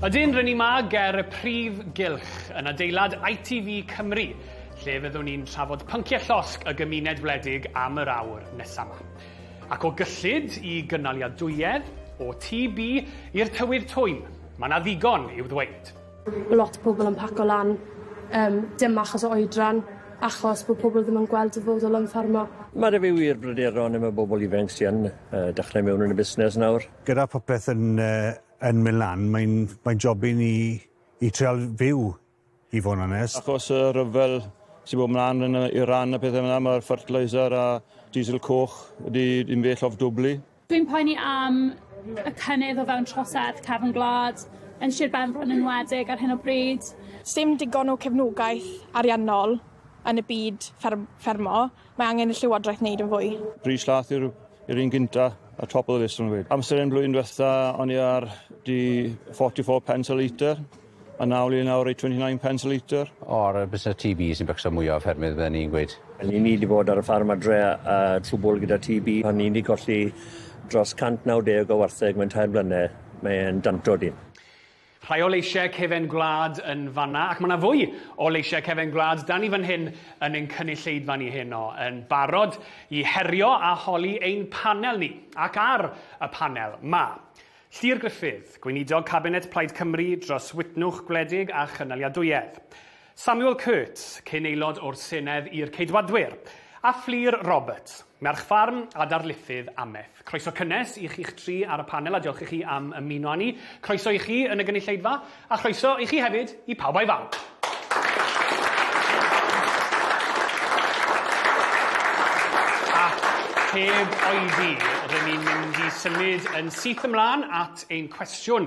Ydyn, r'yn ni 'ma ger y prif gylch yn adeilad ITV Cymru, lle fyddwn ni'n trafod pynciau llosg y gymuned wledig am yr awr nesa' 'ma. Ac o gyllid i gynaliadwyedd, o TB i'r tywydd twym, ma' 'na ddigon i'w ddweud. Lot o pobl yn paco lan, yym dim achos o oedran, achos bo' pobl ddim yn gweld dyfodol yn ffarmo. Ma' 'da fi wir bryderon am y bobl ifanc sy yn yy dechre mewn yn y busnes nawr. Gyda popeth yn yy yn mynd lan, mae'n mae'n job i ni i trial fyw i fod yn onest. Achos y rhyfel sy'n bod mlaen yn Iran a pethau fel 'na mae'r fertiliser a diesel coch wedi yn well off dwbli. Dwi'n poeni am y cynnydd o fewn trosedd cefn gwlad yn Sir Benfro yn enwedig ar hyn o bryd. Sdim digon o cefnogaeth ariannol yn y byd fferm- ffermo Mae angen i'r Llywodraeth wneud yn fwy. Brys Llath yw'r yr un gynta a top of the list o'n gweud. Amser yn blwyddyn diwetha o'n i ar di 44 pence a litre a nawr i nawr i 29 pence a litre. O'r busnes TB sy'n becso mwya o ffermydd fydden ni'n gweud. O'n i di bod ar y ffarm adre a trwbwl gyda TB. O'n i di colli dros 190 o wartheg mewn tair blynedd. Mae e'n danto dyn. Rhai o leisiau cefen gwlad yn fan'na, ac mae yna fwy o leisiau cefen gwlad 'da ni fan hyn yn ein cynulleidfa ni heno, yn barod i herio a holi ein panel ni. Ac ar y panel, mae Llŷr Gruffydd, Gweinidog Cabinet Plaid Cymru dros Wytnwch Gwledig a Chynaliadwyedd. Samuel Curt, cyn aelod o'r Senedd i'r Ceidwadwyr, a Fflur Roberts, merch ffarm a darlithydd amaeth. Croeso cynnes i chi'ch tri ar y panel a diolch i chi am ymuno â ni. Croeso i chi yn y gynulleidfa, a chroeso i chi hefyd i Pawb a'i Fam. Ac heb oedi, rŷn ni'n mynd i symud yn syth ymlaen at ein cwestiwn.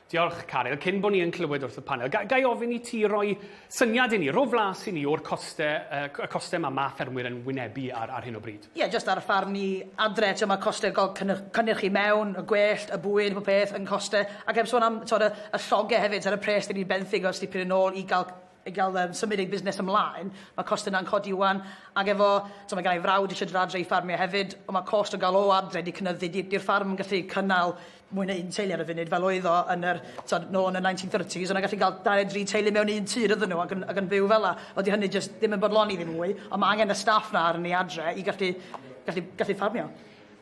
Diolch, Caryl. Cyn bod ni yn clywed wrth y panel, ga, gai ofyn i ti roi syniad i ni, rho flas i ni o'r coste, uh, y coste mae ma ffermwyr yn wynebu ar, ar hyn o bryd? Ie, yeah, jyst ar y ffarm ni adre, ti'n mae coste gol cynnyrch i mewn, y gwellt, y bwyd, y peth yn coste, ac heb sôn am tod, y, y lloge hefyd, ar y pres dyn ni'n benthyg os di pyn yn ôl i gael i gael um, symud ei busnes ymlaen, mae cost yna'n codi wan, ac efo, so mae gen i frawd eisiau dod adre i ffarmio hefyd, ond mae cost o gael o adre wedi cynyddu, di'r ffarm yn gallu cynnal mwy na un teulu ar y funud, fel oedd o yn yr, so, nôl yn y 1930s, ond gallu cael 23 teulu mewn un tir ydyn nhw ac yn, ac yn byw fel la. Oeddi hynny jyst ddim yn bodloni ddim mwy, ond mae angen y staff na arni adre i gallu, gallu, gallu ffarmio.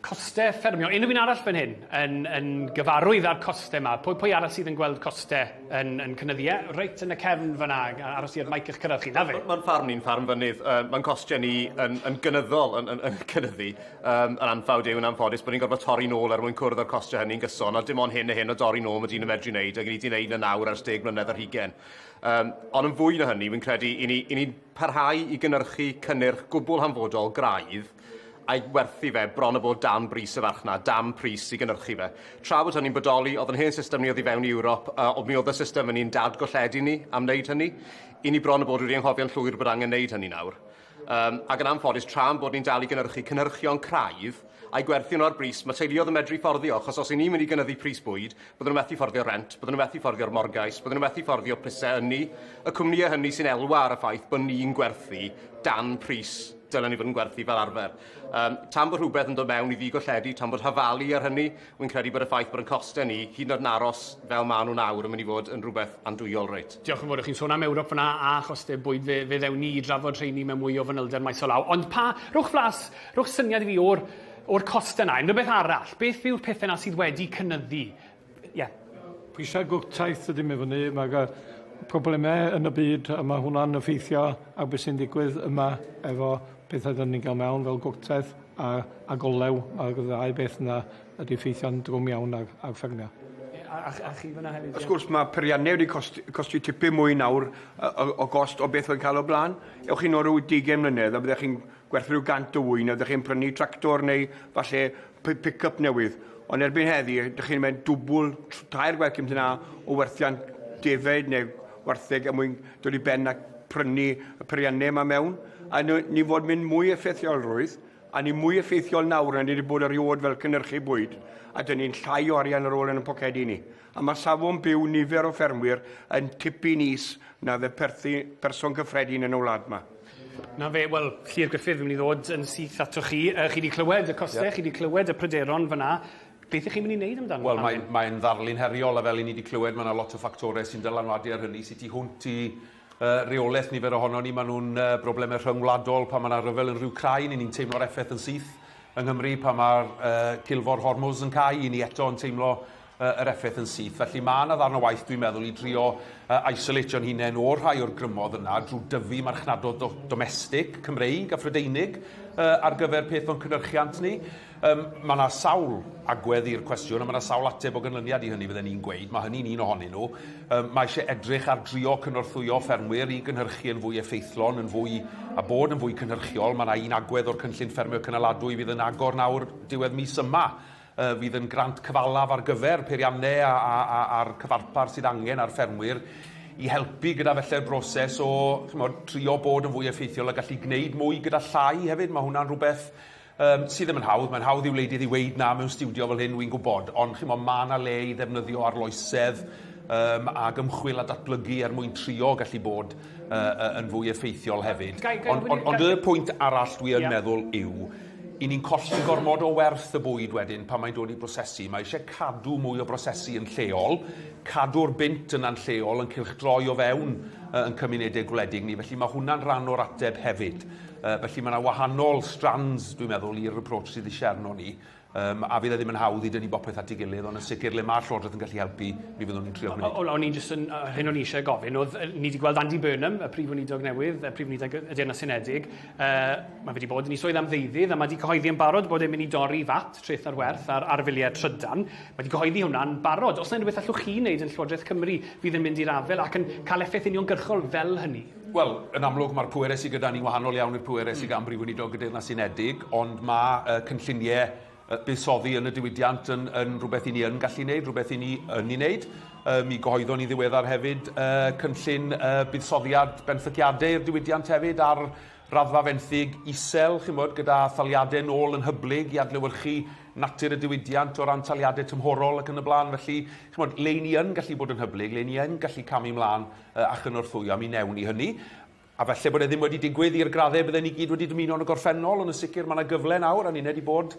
Costau ffermio. Unrhyw un arall fan hyn yn, yn gyfarwydd â'r costau yma? Pwy, pwy arall sydd yn gweld costau yn, yn cynyddu? Ie, reit yn y cefn fanna, aros i'r maic eich cyrraedd chi. Na fe? Mae'n ffarm ni'n ffarm fynydd. Uh, mae'n costau ni yn, yn gynyddol yn, yn, yn cynyddu. Um, yn anffawd yw yn anffodus bod ni'n gorfod torri nôl er mwyn cwrdd â'r costau hynny'n gyson, a dim ond hyn a hyn o dorri nôl mae dyn yn medru wneud, ac ni wedi wneud yn nawr ers deg mlynedd ar hugen. Um, ond yn fwy na hynny, fi'n credu, i ni'n ni, ni parhau i gynnyrchu cynnyrch gwbl hanfodol graidd, a'i werthu fe bron a bod dan bris y farchnad, dan pris i gynhyrchu fe. Tra bod hynny'n bodoli, oedd yn hen system ni oedd i fewn i Ewrop, a mi oedd y system yn un dadgolledig ni am wneud hynny. I ni bron a bod wedi anghofio'n llwyr bod angen wneud hynny nawr. Um, ac yn anffodus, tra'n bod ni'n dal i gynhyrchu cynhyrchion craidd a'i gwerthu nhw ar bris, mae teuluoedd yn medru fforddio, achos os i ni'n mynd i gynyddu pris bwyd, byddwn nhw'n methu fforddio rent, byddwn nhw'n methu fforddio'r morgais, byddwn nhw'n methu fforddio prisau ynni, y cwmnïau hynny sy'n elwa ar y ffaith bod ni'n gwerthu dan pris dylen ni fod yn gwerthu fel arfer. Um, tan bod rhywbeth yn dod mewn i ddigolledu, tan bod hafalu ar hynny, wy'n credu bod y ffaith bod yn costau ni, hyd yn oed yn aros fel maen nhw'n awr, yn mynd i fod yn rhywbeth andwyol reit. Diolch yn fawr, chi'n sôn am Ewrop fyna a chostau bwyd, fe, fe ddewn ni i drafod rheini mewn mwy o fanylder maes o law. Ond pa, rhwch flas, rhwch syniad i fi o'r, o'r costau yna. Unrhyw beth arall, beth yw'r pethau yna sydd wedi cynnyddu Ie. Pwysau gwrtaith sydd ddim i fyny, mae'r uh, problemau yn y byd a mae hwnna'n effeithio ar beth sy'n digwydd yma efo pethau dyn ni'n cael mewn fel gwrtaith a, a golew. Mae'r ddau beth yna wedi effeithio'n drwm iawn ar, ar ffermio. A, a, a chi fyna hefyd? Wrth gwrs, mae periannau wedi costi, costi tipyn mwy nawr o, o gost o beth oedd cael o blaen. Ewch chi nôl rhyw 20 mlynedd a byddech chi'n gwerth rhyw gant o ŵyn a ydych chi'n prynu tractor neu falle pi- pick-up newydd. Ond erbyn heddi, ydych chi'n mynd dwbl, tr- tair gwaith cymryd yna o werthiant defaid neu wartheg er mwyn dod i ben a prynu y peiriannau yma mewn. A ni, ni fod mynd mwy effeithiolrwydd, a ni mwy effeithiol nawr na ni wedi bod erioed fel cynhyrchu bwyd, a dyn ni'n llai o arian ar ôl yn ein pocedi ni. a mae safon byw nifer o ffermwyr yn tipyn is na fe perthi person gyffredin yn y wlad yma. Na fe, wel, Llyr Gruffydd, fi'n mynd i ddod yn syth atoch chi. Uh, chi wedi clywed y costau, yeah. chi wedi clywed y pryderon fyna. Beth ych chi'n mynd i wneud amdano? Wel, mae'n mae ddarlun heriol, a fel i ni wedi clywed, mae yna lot o ffactorau sy'n dylanwadu ar hynny, sut i hwnt i uh, reolaeth nifer ohono ni. Maen nhw'n uh, broblemau rhyngwladol pan mae yna rhyfel yn rhyw crai, ni'n teimlo'r effaith yn syth yng Nghymru pan mae'r uh, cilfor Hormuz yn cael, i ni eto yn teimlo yr effaith yn syth. Felly mae yna ddarn o waith dwi'n meddwl i drio uh, isolatio'n hunain o'r rhai o'r grymodd yna drwy dyfu marchnadol do domestig, Cymreig a Phrydeinig uh, ar gyfer peth o'n cynhyrchiant ni. Um, mae yna sawl agwedd i'r cwestiwn a mae yna sawl ateb o ganlyniad i hynny fydden ni'n gweud, mae hynny'n un ohonyn nhw. Um, mae eisiau edrych ar drio cynorthwyo ffermwyr i gynhyrchu yn fwy effeithlon, yn fwy a bod yn fwy cynhyrchiol. Mae yna un agwedd o'r cynllun ffermio cynaladwy fydd yn agor nawr diwedd mis yma fydd yn grant cyfalaf ar gyfer peiriannau a'r cyfarpar sydd angen ar ffermwyr i helpu gyda felly'r broses o chymod, trio bod yn fwy effeithiol a gallu gwneud mwy gyda llai hefyd. Mae hwnna'n rhywbeth um, sydd ddim yn hawdd. Mae'n hawdd i wleidydd i weid na mewn stiwdio fel hyn, wy'n gwybod, ond chymod, mae yna le i ddefnyddio arloesedd um, ac ymchwil a datblygu er mwyn trio gallu bod uh, yn fwy effeithiol hefyd. Ond, ond, ond y pwynt arall dwi yn yeah. meddwl yw 'y ni'n colli gormod o werth y bwyd wedyn pan mae'n dod i brosesu. Mae eisiau cadw mwy o brosesu yn lleol, cadw'r bunt yna'n lleol yn cylchdroi o fewn uh, yn cymunedau gwledig ni, felly mae hwnna'n rhan o'r ateb hefyd. Uh, felly mae yna wahanol strands, dwi'n meddwl, i'r approach sydd eisiau arno ni, um, a fydd e ddim yn hawdd i dynnu bopeth at ei gilydd, ond yn sicr le mae'r Llywodraeth yn gallu helpu, mi fyddwn ni'n trio gwneud. O'n i'n jyst yn, hyn o'n i eisiau gofyn, oedd, ni wedi gweld Andy Burnham, y Prif Weinidog newydd, y Prif Weinidog y Deyrnas Unedig, Yy, mae fe 'di bod yn 'i swydd am ddeuddydd, a mae 'di cyhoeddi yn barod bod e'n mynd i dorri VAT, treth ar werth, ar ar filiau trydan. Mae 'di cyhoeddi hwnna'n barod. Oes 'na unrhyw beth allwch chi wneud yn Llywodraeth Cymru fydd yn mynd i'r afael ac yn cael effaith uniongyrchol fel hynny? Wel, yn amlwg, mae'r pwerau sy gyda ni'n wahanol iawn i'r pwerau sy gan Brif Weinidog y Deyrnas Unedig, ond mae yy cynlluniau buddsoddi yn y diwydiant yn, yn rhywbeth i ni yn gallu wneud, rhywbeth i ni yn ei wneud. Uh, mi gyhoeddon ni ddiweddar hefyd uh, cynllun uh, buddsoddiad benthyciadau i'r diwydiant hefyd ar raddfa fenthyg isel, chymod, gyda thaliadau nôl yn hyblyg i adlewyrchu natur y diwydiant o ran taliadau tymhorol ac yn y blaen. Felly, chymod, le ni yn gallu bod yn hyblyg, le ni yn gallu camu mlaen uh, a chynorthwyo, mi newn ni hynny. A falle bod e ddim wedi digwydd i'r graddau bydden ni gyd wedi dymuno yn y gorffennol, ond yn sicr mae yna gyfle nawr, a'n uned i bod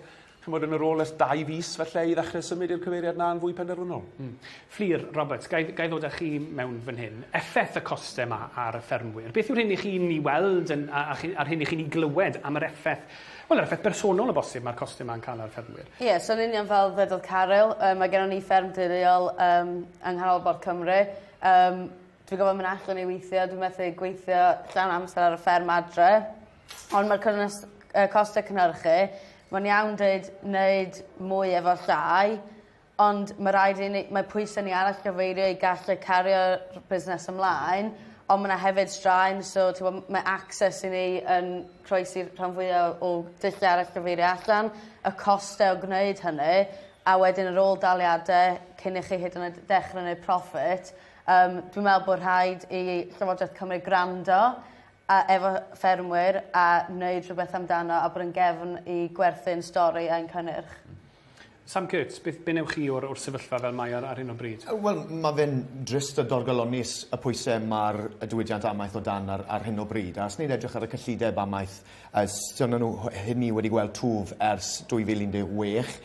ch'mod, yn y rôl ers dau fis falle i ddechrau symud i'r cyfeiriad yna yn fwy penderfynol. Mm. Fflur, Roberts, ga i, ga i ddod â chi mewn fan hyn. Effaith y costau yma ar y ffermwyr. Beth yw'r hyn i chi'n ei weld yn, a, a, a'r hyn i chi'n ei glywed am yr effaith, wel, yr effaith bersonol o bosib mae'r costau yma yn cael ar y ffermwyr? Ie, yeah, so yn union fel ddedodd Caryl, um, mae gennym ni fferm deuluol um, yng nghanolbarth Cymru. Um, Dwi gorfod myn' allan i withio dwi methu gweithio llawn amser ar y fferm adre. Ond ma'r cyrnys- yy coste cynhyrchu ma'n iawn deud neud mwy efo llai ond ma' raid i ni mae pwyse ni ar allgyfeirio i gallu cario'r busnes ymlaen on' ma' 'na hefyd straen so t'mo' m- ma' access i ni yn croesi rhan fwya o o dullia ar allgyfeirio allan y coste o gwneud hynny a wedyn yr ôl-daliade cyn i chi hyd yn oed dechre neud proffit Yym, dwi'n meddwl bod rhaid i Llywodraeth Cymru gwrando a- efo ffermwyr a wneud rhywbeth amdano a bod yn gefn i gwerthu'n stori ein cynnyrch. Sam Kurtz, beth be wnewch chi o'r o'r sefyllfa fel mae ar ar hyn o bryd? Yy wel ma' fe'n drist a dorgalonnus y pwyse ma'r y diwydiant amaeth o dan ar ar hyn o bryd a os ni'n edrych ar y cyllideb amaeth Ers dyna nhw hyn ni wedi gweld twf ers 2016.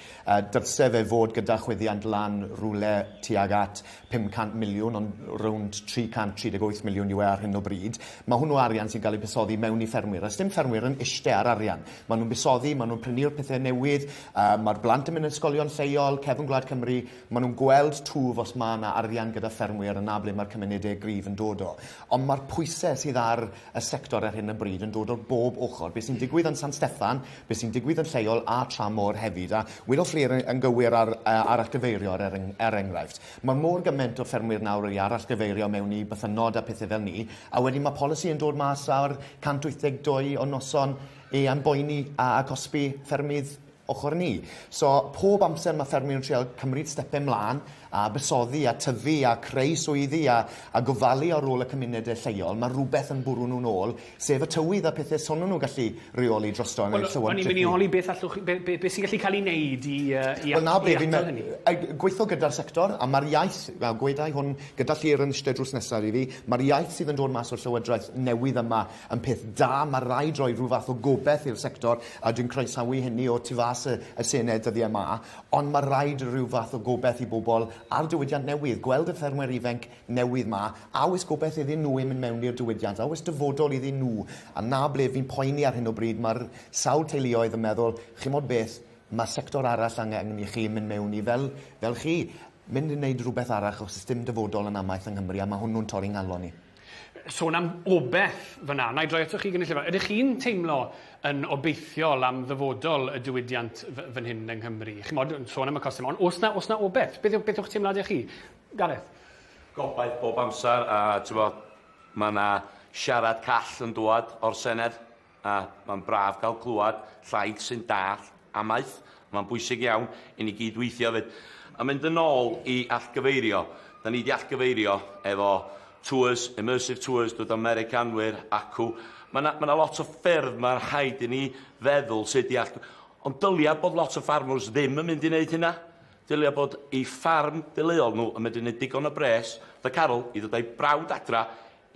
Dylse fe fod gyda chwyddiant lan rywle tuag at 500 miliwn ond rownd 338 miliwn yw e ar hyn o bryd. Mae hwnnw arian sy'n cael ei busoddi mewn i ffermwyr a sdim ffermwyr yn iste ar arian. Maen nhw'n busoddi, maen nhw'n prynu'r pethau newydd, mae'r blant yn mynd yn ysgolion lleol, cefn gwlad Cymru, maen nhw'n gweld twf os mae yna arian gyda ffermwyr yna ble mae'r cymunedau gryf yn dod o. Ond mae'r pwysau sydd ar y sector ar hyn o bryd yn dod o bob ochr. Be sy'n digwydd yn San Steffan, be sy'n digwydd yn lleol a Tramor hefyd. A wedodd Fflir yn gywir ar uh, arallgyfeirio er, eng er enghraifft. Mae mor gymaint o ffermwyr nawr wedi arallgyfeirio mewn i bythynnod a pethau fel ni, a wedyn mae polisi yn dod mas ar 182 o noson e a'n boeni a, a cosbi ffermydd ochr ni. So, pob amser mae ffermwyr yn trial cymryd stepau mlaen a bysoddi a tyfu a creu swyddi a, a gofalu ar ôl y cymunedau lleol, mae rhywbeth yn bwrw nhw'n ôl, sef y tywydd a pethau sonwn nhw gallu reoli drosto yn well, eu llewod O'n i'n mynd i holi beth allwch, be, be, be sy'n gallu cael ei wneud i, uh, i, well, na, i atal hynny? Gweithio gyda'r sector, a mae'r iaith, a gwedau hwn gyda llir yn ystod drws nesaf i fi, mae'r iaith sydd yn dod mas o'r llywodraeth newydd yma Yn peth da, mae raid roi rhyw fath o gobaith i'r sector, a dwi'n croesawu hynny o tu fas y y Senedd dyddiau yma, ond mae raid rhyw fath o gobaith i bobl a'r diwydiant newydd, gweld y ffermwyr ifainc newydd 'ma, a oes gobaith iddyn nhw i mynd mewn i'r diwydiant, a oes dyfodol iddyn nhw? A 'na ble fi'n poeni ar hyn o bryd, mae'r sawl teuluoedd yn meddwl, chimod beth, mae sector arall angen i chi mynd mewn i fel fel chi, mynd i wneud rhywbeth arall achos does dim dyfodol yn amaeth yng Nghymru a mae hwnnw'n torri 'nghalon i. sôn am obaith fyna. Wna i droi atoch chi gynulleidfa. Ydych chi'n teimlo yn obeithiol am ddyfodol y diwydiant fan hyn yng Nghymru? Chimod, yn sôn am y costau, ond os na, os na obaith, beth, beth yw'ch teimladau chi? Gareth? Gobaith bob amser, a ti'n bod, mae yna siarad call yn dŵad o'r Senedd. A, mae'n braf cael clywed llais sy'n dallt amaeth. Mae'n bwysig iawn i ni gyd weithio hefyd. A mynd yn ôl i allgyfeirio, da ni wedi allgyfeirio efo tours, immersive tours, dod â Americanwyr acw. Mae yna ma lot o ffyrdd mae'n rhaid i ni feddwl sut i allgyfeirio. Ond dylia bod lot o ffarmwrs ddim yn mynd i wneud hynna. Dylia bod ei ffarm deuluol nhw yn medru gwneud digon o bres, fatha Carol, i ddod â'i brawd adra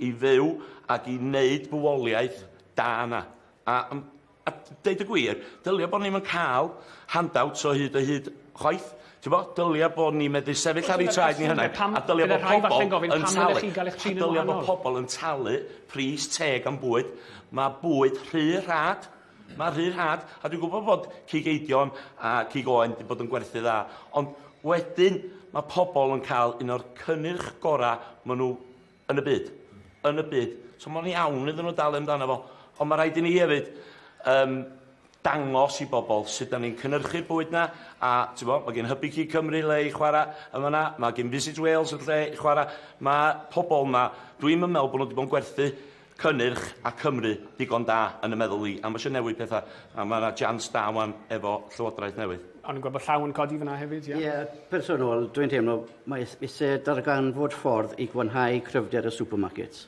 i fyw ac i wneud bywoliaeth da yna. A yym a deud y gwir, dylia bod ni'm yn cael handouts o hyd o hyd chwaith. T'bo'? Dylia bod ni'n medru sefyll ar eu traed ni hunain, a dylia bod pobol yn talu, dylia bod pobol yn talu pris teg am bwyd. Mae bwyd rhy rhad, mae rhy rhad, a dwi'n gwybod bod cig eidion a cig oen wedi bod yn gwerthu dda, ond wedyn mae pobol yn cael un o'r cynnyrch gorau maen nhw Yn y byd. Yn y byd. So mae'n iawn iddyn nhw dalu amdano fo. Ond mae rhaid i ni hefyd um, dangos i bobl sut da ni'n cynhyrchu'r bwyd na, a ti'n bod, mae gen Hybu Cig Cymru le i chwarae yn fanna, mae gen Visit Wales yn lle i chwarae, mae pobl yma, dwi'n meddwl bod nhw wedi bod yn gwerthu cynnyrch a Cymru digon da yn y meddwl i, am isio newid petha, a ma' 'na jians da ŵan efo Llywodraeth newydd. O'n i'n gweld bod llaw yn codi fan'na hefyd, ie? Ie, personol, dwi'n teimlo mae is- isie darganfod ffordd i gwanhau cryfder y supermarkets.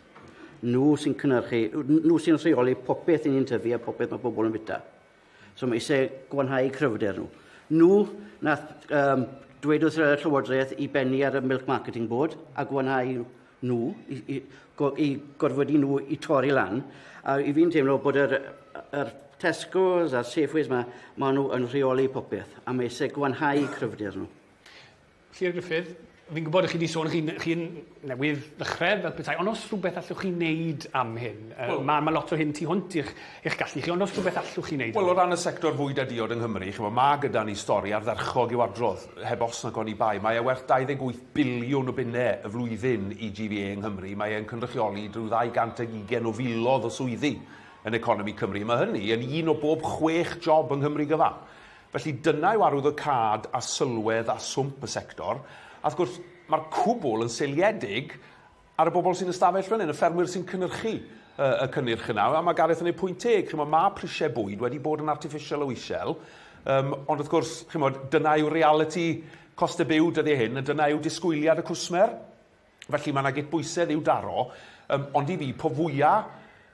Nhw sy'n cynyrchu, n- nhw sy'n rheoli popeth 'yn ni'n tyfu a popeth mae pobl yn fwyta. So mae eisiau gwanhau cryfder nhw. Nhw nath um, dweud wrth y Llywodraeth i bennu ar y Milk Marketing Board a gwanhau nhw, i, i, go, i gorfodi nhw i torri lan. A i fi'n teimlo bod yr, yr Tesco's a'r Safeways yma, maen nhw yn rheoli popeth, a mae eisiau gwanhau cryfder nhw. Syr Gruffydd, fi'n gwybod chi 'di sôn chi chi newydd ddechre fel petai, ond os rhywbeth allwch chi wneud am hyn? Yy ma' ma' lot o hyn tu hwnt i'ch eich gallu chi, ond os rhywbeth allwch chi wneud? Wel o ran y sector fwyd a diod yng Nghymru, ch'mo' ma' gyda ni stori ardderchog i'w adrodd, heb os nag oni bai. Mae e werth 28 biliwn o bunne y flwyddyn i GVA yng Nghymru, mae e'n cynrychioli rhyw ddau gant ag ugain o filoedd o swyddi yn economi Cymru. Ma' hynny yn un o bob chwech job yng Nghymru gyfan. Felly, dyna yw arwyddocâd a sylwedd a swmp y sector, a wrth gwrs, mae'r cwbl yn seiliedig ar y bobl sy'n ystafell fan hyn, y ffermwyr sy'n cynhyrchu y, y cynnyrch yna, a mae Gareth yn ei pwynt teg, chymod, mae prisiau bwyd wedi bod yn artiffisial o isel, um, ond wrth gwrs, chymod, dyna yw realiti costau byw dyddiau hyn, a dyna yw disgwyliad y cwsmer. Felly mae 'na gydbwysedd i'w daro, yym, ond i fi, po fwya',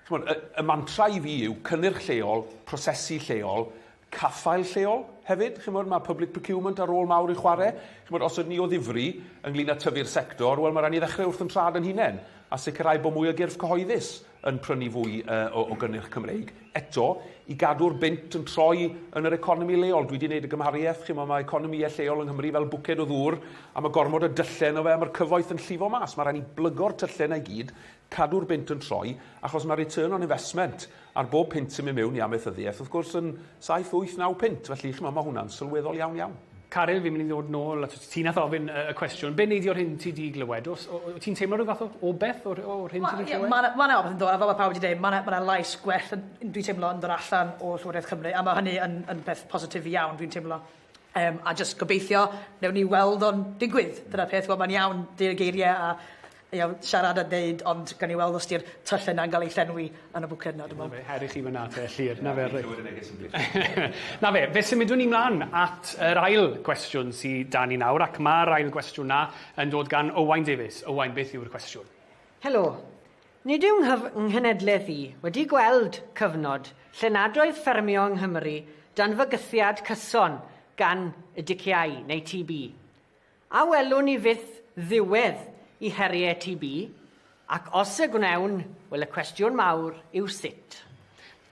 ch'mod, y y mantra i fi yw cynnyrch lleol, prosesu lleol, caffael lleol hefyd, ch'mod, ma' public procurement â rôl mawr i chware', ch'mod, os ydyn ni o ddifri ynglŷn â tyfu'r sector, wel, ma' raid ni ddechrau wrth 'yn trad 'yn hunain, a sicrhau bod mwy o gyrff cyhoeddus yn prynu fwy yy o o gynnyrch Cymreig. Eto, i gadw'r bunt yn troi yn yr economi leol, dwi 'di neud y gymhariaeth, chimo, ma' economïe lleol yng Nghymru fel bwced o ddŵr, a ma' gormod o dylle yno fe, a ma'r cyfoeth yn llifo mas, ma' rai' ni blygo'r tylle 'na i gyd, cadw'r bunt yn troi, achos ma' return on investment ar bob punt sy'n myn' miwn i amaethyddieth, wrth gwrs, yn saith, wyth, naw punt, felly, chimo, ma' hwnna'n sylweddol iawn iawn. Caryl, fi'n mynd i ddod nôl at ti nath ofyn y cwestiwn. Be' nei di o'r hyn ti 'di glywed? O's o- wyt ti'n teimlo rhyw fath o o beth o'r o'r hyn ti 'di clywed? Wel ie ma' 'na ma' 'na ofyn yn do' a fel ma' pawb 'di deud ma' 'na ma' 'na lais gwell yn yn dwi'n teimlo yn dod allan o Llywodraeth Cymru a ma' hynny yn yn beth positif iawn dwi'n teimlo. Yym a jyst gobeithio newn ni weld o'n digwydd. Dyna'r peth wel ma'n iawn deud y geirie a you know, siarad a deud ond gawn ni weld os 'di'r tylle 'na'n ga'l ei llenwi yn y bwced 'na dwi me'wl. Ie her i chi fyn 'na te Llŷr. 'Na fe reit. Na fe, fe symudwn ni mlan at yr ail gwestiwn sy 'da ni nawr ac ma'r ail gwestiwn 'na yn dod gan Owain Davies. Owain beth yw'r cwestiwn? Helo. Nid yw 'nghyf nghenedleth i wedi gweld cyfnod lle nad oedd ffermio yng Nghymru dan fygythiad cyson gan y diciâu, neu TB. A welwn ni fyth ddiwedd i heriau TB? Ac os y gwnewn, wel y cwestiwn mawr yw sut?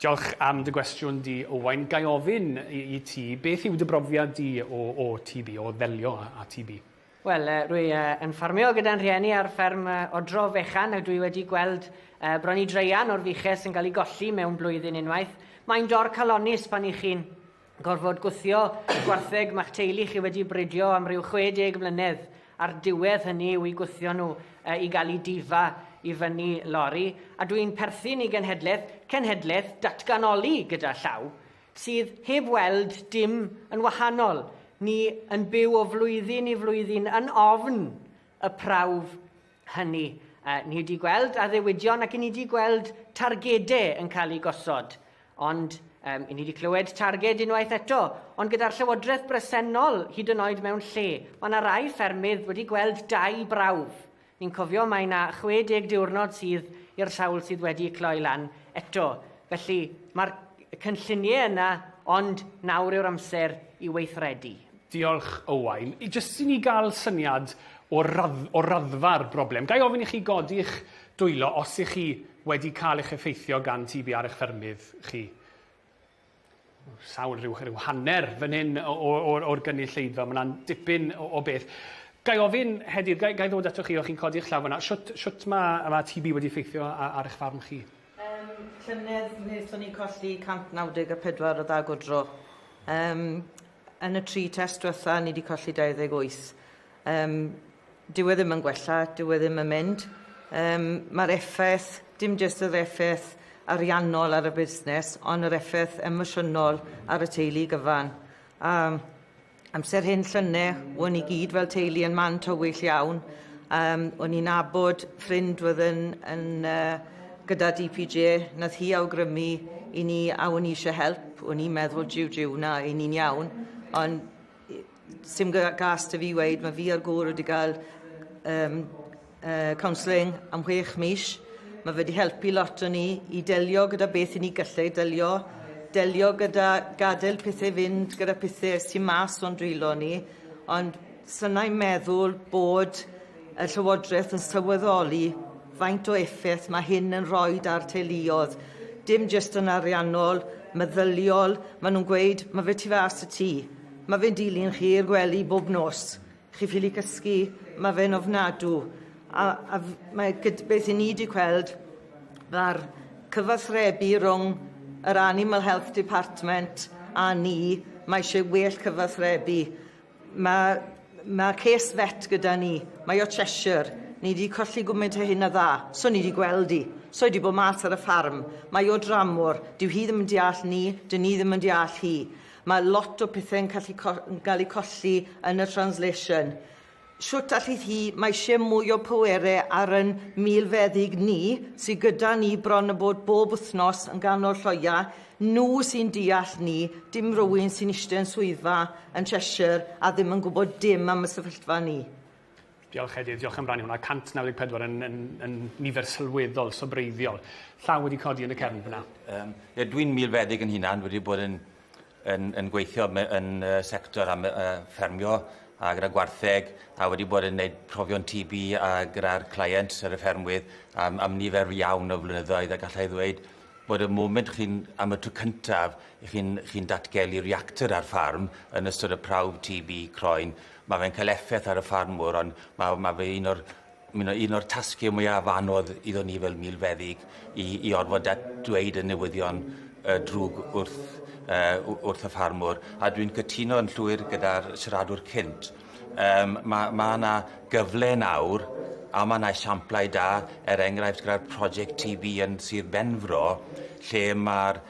Diolch am dy gwestiwn di, Owain. Ga i ofyn i ti, beth yw dy brofiad di o o TB, o ddelio â TB? Wel, rwy yn ffarmio gyda'n rhieni ar fferm odro fechan a dwi wedi gweld bron i draean o'r fuches yn cael ei golli mewn blwyddyn unwaith. Mae'n dor calonnus pan 'y chi'n gorfod gwthio gwartheg mae'ch teulu chi wedi bridio am ryw 60 mlynedd a'r diwedd hynny yw i gwthio nhw uh, i gael ei difa i fyny lori a dwi'n perthyn i genhedlaeth, cenhedlaeth datganoli gyda llaw sydd heb weld dim yn wahanol. Ni yn byw o flwyddyn i flwyddyn yn ofn y prawf hynny. Uh, ni wedi gweld addewidion ac ni wedi gweld targedau yn cael eu gosod. Ond um, ni wedi clywed targed unwaith eto, ond gyda'r llywodraeth bresennol hyd yn oed mewn lle, mae yna rai ffermydd wedi gweld dau brawf. Ni'n cofio mae yna 60 diwrnod sydd i'r sawl sydd wedi cloi lan eto. Felly mae'r cynlluniau yna, ond nawr yw'r amser i weithredu. Diolch, Owain. Jyst i ni gael syniad o radd- o raddfa'r broblem, ga i ofyn i chi godi'ch dwylo os ych chi wedi cael eich effeithio gan TB ar eich ffermydd chi? Sawl rhyw, rhyw hanner fan hyn o, o, o'r, o'r gynulleidfa, mae yna'n dipyn o, o beth. Ga i ofyn, Hedydd, ga, ga i ddod ato chi o chi'n codi'ch llaw fyna, shwt, shwt mae, mae TB wedi effeithio ar, ar eich farm chi? Yym, llynedd wnaethon ni colli 194 o dda gwdro. Yym, yn y tri test diwetha, ni wedi colli 28. Yym, dyw e ddim yn gwella, dyw e ddim yn mynd. Yym, mae'r effaith, dim jyst yr effaith ariannol ar y busnes, ond yr effaith emosiynol ar y teulu gyfan. A Amser hyn llynne, o'n i gyd fel teulu yn man tywyll iawn. Um, o'n i'n abod ffrind oedd yn, yn uh, gyda DPJ, nath hi awgrymu i ni a o'n i eisiau help. O'n i'n meddwl jiw jiw na, i ni'n iawn. Ond sy'n gas dy fi weid, mae fi a'r gŵr wedi cael um, uh, counselling am chwech mis. Mae wedi helpu lot o ni i delio gyda beth i ni gallai delio, delio gyda gadael pethau fynd, gyda pethau sy'n mas o'n dwylo ni, ond synau meddwl bod y Llywodraeth yn sylweddoli faint o effaith mae hyn yn rhoi ar teuluodd. Dim jyst yn ariannol, meddyliol, maen nhw'n gweud, mae fe tu fas y tŷ. Mae fe'n dilyn chi i'r gwely bob nos. Chi ffili cysgu ma' fe'n ofnadw a a f- mae gyd- beth 'yn ni 'di gweld ma'r cyfathrebu rwng yr Animal Health Department a ni mae isie well cyfathrebu ma' ma' cês vet gyda ni mae o Cheshire ni 'di colli gwment o hyn a dda so ni 'di gweld 'i so 'i 'di bo' mas ar y ffarm mae o dramor dyw hi ddim yn deall ni 'dyn ni ddim yn deall hi Mae lot o pethe'n callu co- yn gael eu colli yn y translation. Shwt allith hi, mae eisiau mwy o pwere ar yn milfeddyg ni, sy gyda ni bron a bod bob wythnos yn ganol lloia, nhw sy'n deall ni, dim rywun sy'n eistedd yn swyddfa yn Cheshire a ddim yn gwybod dim am y sefyllfa ni. Diolch Edir, diolch am rannu hwnna. 194 yn, yn, yn nifer sylweddol, sobreiddiol. Llaw wedi codi yn y cefn fyna. Um, ie, dwi'n milfeddyg yn hunan, wedi bod yn, yn, yn gweithio yn uh, sector am, uh, ffermio a gyda gwartheg a wedi bod yn gwneud profion TB a gyda'r client ar y ffermwydd am, am nifer iawn o flynyddoedd a gallai ddweud bod y moment chi'n am y tro cyntaf chi'n chi datgelu reactor ar ffarm yn ystod y prawf TB croen Ma' fe'n cael effaith ar y ffarmwr ond ma' ma' fe un o'r ma' wnna un o'r tasge mwyaf anodd iddo ni fel milfeddyg i i orfod dat- dweud y newyddion yy drwg wrth yy w- wrth y ffarmwr a dwi'n cytuno'n llwyr gyda'r siaradwr cynt yym ma' ma' 'na gyfle nawr a ma' 'na esiamplau da er enghraifft gyda'r project Tee Bee yn Sir Benfro lle ma'r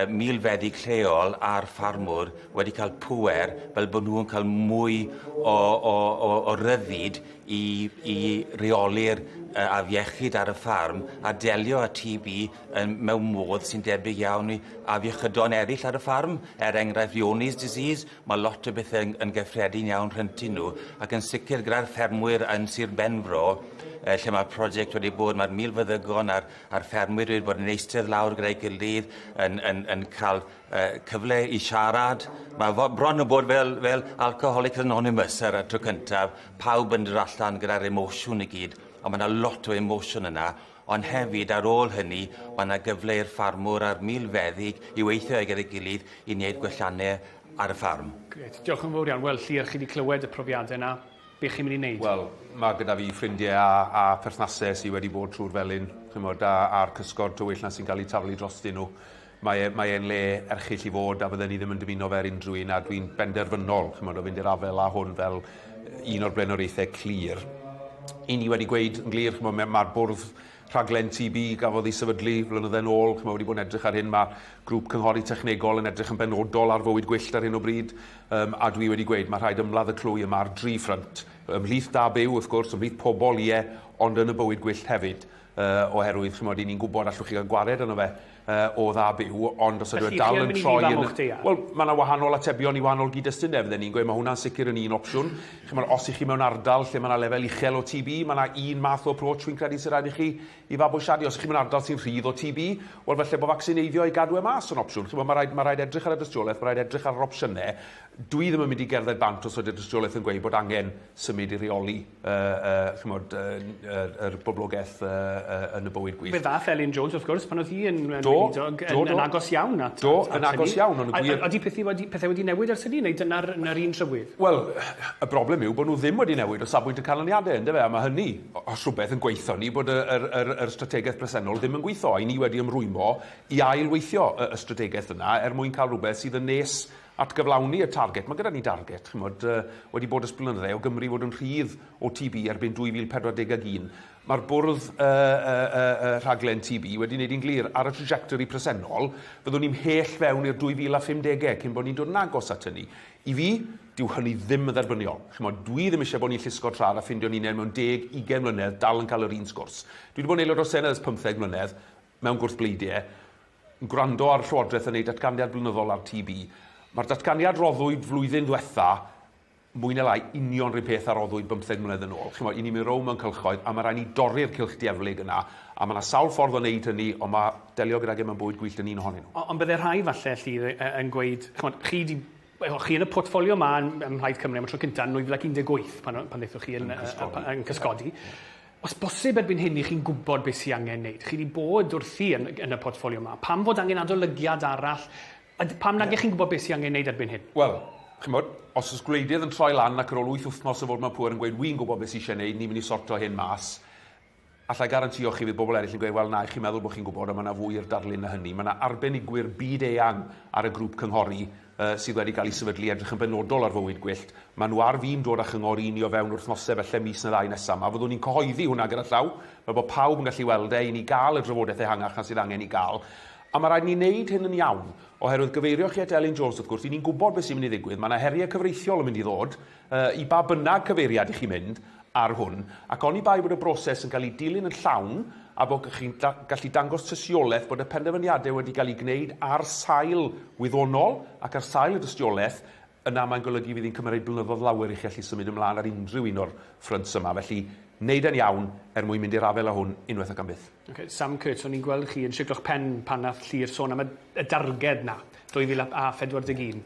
milfeddyg lleol a'r ffarmwr wedi cael pŵer fel bod nhw'n cael mwy o, o, o, o ryddid i, i reoli'r uh, afiechyd ar y ffarm a delio â TB yn, mewn modd sy'n debyg iawn i afiechydon eraill ar y ffarm. Er enghraifft Leonie's disease, mae lot o bethau yn, yn gyffredin iawn rhyntu nhw ac yn sicr gyda'r ffermwyr yn Sir Benfro uh, lle mae'r prosiect wedi bod, mae'r milfeddygon a'r a'r ffermwyr wedi bod yn eistedd lawr gyda'i gilydd yn, yn, yn cael uh, cyfle i siarad. Mae bron yn bod fel, fel Alcoholics Anonymous ar y tro cyntaf, pawb yn dod allan gyda'r emosiwn i gyd, ond mae yna lot o emosiwn yna, ond hefyd ar ôl hynny mae yna gyfle i'r ffarmwr a'r milfeddyg i weithio gyda'i gilydd i wneud gwelliannau ar y ffarm. Gret, diolch yn fawr iawn. Wel, Llyr, chi wedi clywed y profiadau yna. Be chi'n mynd i neud? Wel, ma' gyda fi ffrindie a a pherthnase sy wedi bod trw'r felin, ch'mod, a a'r cysgod tywyll 'na sy'n ga'l 'u taflu drostyn nhw. Mae e mae e'n le erchyll i fod a fydden i ddim yn dymuno fe ar unrhyw un a dwi'n benderfynol, ch'mod, o fynd i'r afel â hwn fel yy un o'r blaenoriaethau clir. 'Yn ni wedi gweud yn glir, ch'mod, ma' ma'r bwrdd Rhaglen TB gafodd ei sefydlu flynydde yn ôl, ch'mo' wedi bod yn edrych ar hyn, ma' grŵp cynghori technegol yn edrych yn benodol ar fywyd gwyllt ar hyn o bryd, yym a dwi wedi gweud ma' rhaid ymladd y clwy yma ar dri ffrynt, ymhlith da byw wrth gwrs, ymhlith pobol, ie, ond yn y bywyd gwyllt hefyd, yy oherwydd ch'mod 'yn ni'n gwbod allwch chi ga'l gwared arno fe yy, o dda byw, ond os ydw e dal yn troi yn... Wel, mae yna wahanol atebion i wahanol gyd-destune, fydden i'n gweud, mae hwnna'n sicr yn un opsiwn. Chimod, os 'y chi mewn ardal lle mae yna lefel uchel o TB, mae yna un math o approach fi'n credu sy'n rhaid i chi i fabwysiadu. Os 'y chi mewn ardal sy'n rhydd o TB, wel falle bod facsineiddio i gadw e mas yn opsiwn. Chimod, mae rhaid, mae rhaid edrych ar y dystiolaeth, mae rhaid edrych ar yr opsiynau. Dwi ddim yn mynd i gerdded bant os ydy'r dystiolaeth yn gweud bod angen symud i reoli. yy yy ch'mod yy yr yr boblogeth yy yy yn y bywyd gwyllt. Fe ddath Elin Jones wrth gwrs pan oedd hi yn yn weinidog yn yn agos iawn at do, at, at yn agos iawn ond gwir... Ydy pethau wedi pethau wedi newid ers hynny neu dyna'r na'r un trywydd? Wel y broblem yw bod nhw ddim wedi newid o safbwynt y canlyniadau yndyfe a mae hynny os rhywbeth yn gweithio ni bod y yr yr yr strategaeth presennol ddim yn gweithio a ni wedi ymrwymo i ail weithio y, y strategaeth yna er mwyn cael rhywbeth sydd yn nes At gyflawni y target, mae gyda ni darget, chimod, wedi bod ers blynydde, o Gymru fod yn rhydd o TB erbyn 2040 ag un. Mae'r bwrdd y, y, y, y rhaglen TB wedi wneud hi'n glir, ar y trajectory presennol, fyddwn ni'n mhell fewn i'r 2050 cyn bod ni'n dod yn agos at hynny. I fi, dyw hynny ddim yn dderbyniol. Chimod, dwi ddim eisiau bod ni'n llusgo trad a ffindio'n hunain mewn deg, ugain mlynedd, dal yn cael yr un sgwrs. Dwi wedi bod yn Aelod o'r Senedd ers pymtheg mlynedd, Mewn gwrthbleidiau, yn gwrando ar y Llywodraeth yn ei datganiad blynyddol ar TB, mae'r datganiad roddwyd flwyddyn ddiwetha' mwy neu lai union 'r un peth a roddwyd bymtheg mlynedd yn ôl. Chimod, 'yn ni'n mynd rownd mewn cylchoedd a ma' raid ni dorri'r cylch dieflig yna, a ma' 'na sawl ffordd o wneud hynny, ond ma' delio gydag e mewn bywyd gwyllt yn un ohonyn nhw. Ond byddai rhai falle, Llyr, yn gweud, chimod, chi 'di Wel, chi yn y portffolio yma ym ym Mhlaid Cymru am y tro cynta' yn 2018 pan o- pan ddethoch chi yn yy yy pa- yn cysgodi. Os bosib erbyn hyn 'ych chi'n gwbod beth sy angen neud. Chi 'di bod wrthi yn yn y portffolio 'ma. Pam fod angen adolygiad arall? A d- pam nag 'ych chi'n gwbod beth sy angen neud erbyn hyn? Wel, ch'mod, os o's gwleidydd yn troi lan ac ar ôl wyth wythnos o fod mewn pŵer yn gweud 'wi'n gwbod beth sy isie neud, ni'n myn' i sorto hyn mas', Alla i garantïo chi fydd bobl eraill yn gweud 'wel na, chi'n meddwl bod chi'n gwybod ond mae yna fwy i'r darlun na hynny'. Mae yna arbenigwyr byd-eang ar y grŵp cynghori sydd wedi cael eu sefydlu i edrych yn benodol ar fywyd gwyllt. Maen nhw ar fin dod â chyngor i ni o fewn wythnosau falle mis neu ddau nesaf 'ma. Fyddwn i'n cyhoeddi hwnna gyda llaw fel bod pawb yn gallu weld e i ni gael y drafodaeth ehangach na sydd angen ei gael. A mae rhaid i ni wneud hyn yn iawn. Oherwydd, gyfeirioch chi at Elin Jones wrth gwrs, 'y ni'n gwybod beth sy'n mynd i ddigwydd, mae yna heriau cyfreithiol yn mynd i ddod, I ba bynnag cyfeiriad i chi mynd ar hwn, ac oni bai bod y broses yn cael ei dilyn yn llawn a bod chi'n gallu dangos tystiolaeth bod y penderfyniadau wedi cael eu gwneud ar sail wyddonol ac ar sail y dystiolaeth, yna mae'n golygu fydd hi'n cymryd blynyddoedd lawer i chi allu symud ymlaen ar unrhyw un o'r ffrynts yma. Felly, wneud e'n iawn er mwyn mynd i'r afael â hwn unwaith ac am byth. Okay, Sam Kurtz, o'n i'n gweld chi yn shiclo'ch pen pan nath Llŷr sôn am y darged 'na, 2041.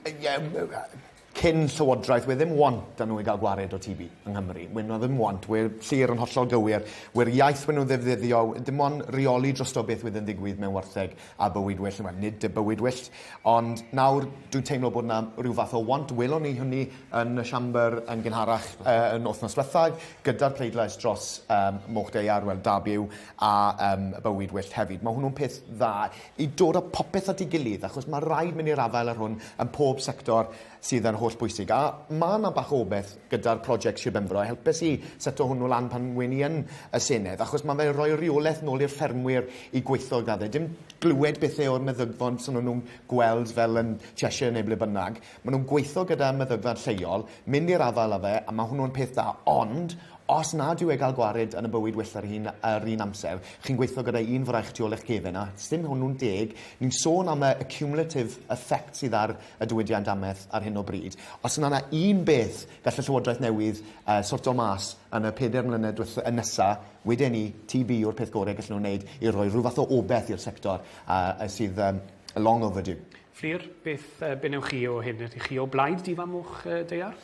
cyn llywodraeth we' ddim want da nhw i gael gwared o TB yng Nghymru. We' nhw ddim want. We'r sir yn hollol gywir. We'r iaith we' nhw'n ddefnyddio dim ond reoli drosto beth wedd yn ddigwydd mewn wartheg a bywyd well yma. Nid y bywyd wyllt. Ond nawr dwi'n teimlo bod yna rhyw fath o want. Welon ni hynny yn y siambr yn gynharach uh, yn wythnos dwetha gyda'r pleidlais dros um, Moch Deiar, wel da byw, a um, bywyd wyllt hefyd. Mae hwnnw'n peth dda. i dod a popeth at ei gilydd achos ma' raid mynd i'r afael â'r hwn ym mhob sector sydd yn holl bwysig a ma' 'na bach o obeth gyda'r project Sir Benfro helpes i seto hwnnw lan pan wen i yn y Senedd achos ma' fe'n rhoi reolaeth nôl i'r ffermwyr i gweithio gyda fe dim glywed bethe o'r meddygfond swn nhw'n gweld fel yn Cheshire neu ble bynnag Maen nhw'n gweithio gyda meddygfa lleol, mynd i'r afael â fe, a mae hwnnw'n peth da. Ond, os nad yw e gael gwared yn y bywyd well yr un, yr un amser, chi'n gweithio gyda un fraich tu ôl eich gefen, a sdim hwnnw'n deg. Ni'n sôn am y y cumulative effect sydd ar y diwydiant amaeth ar hyn o bryd. Os na 'na un beth gall y Llywodraeth newydd yy sorto mas yn y pedair mlynedd dwetha- yy nesa, weden ni, TB yw'r peth gore gallen nhw wneud i roi rhyw fath o obeth i'r sector a- a sydd yym long overdue. Fflur, beth yy be' newch chi o hyn? Ydych chi o blaid di-fam moch yy daear?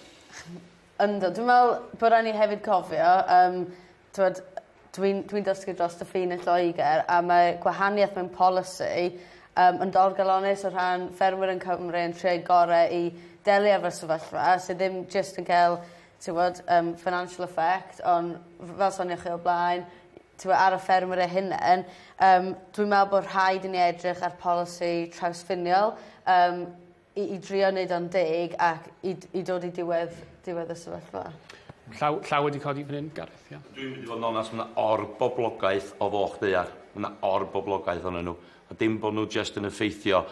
Yndw dwi me'wl bo' rai' ni hefyd cofio yym t'wod dwi'n dwi'n dysgu drost y ffin yn Lloeger a mae gwahanieth mewn polisi yym yn dorgalones o rhan ffermwyr yn Cymru yn trio'u gore i delio efo'r sefyllfa sy ddim jyst yn ca'l t'wod yym financial effect on' f- fel sonioch chi o'r blaen t'mo' ar y ffermwyr eu hunen yym dwi'n me'wl bo' rhaid i ni edrych ar polisi trawsffiniol yym i i drio neud o'n deg ac i d- i dod i diwedd diwedd y sefyllfa. Llaw llaw wedi codi fan 'yn Gareth ia. Dwi'n mynd i fod yn onast ma' 'na orboblogaeth o foch ddaear. Ma' 'na orboblogaeth onyn nw. A dim bo' nw jyst yn effeithio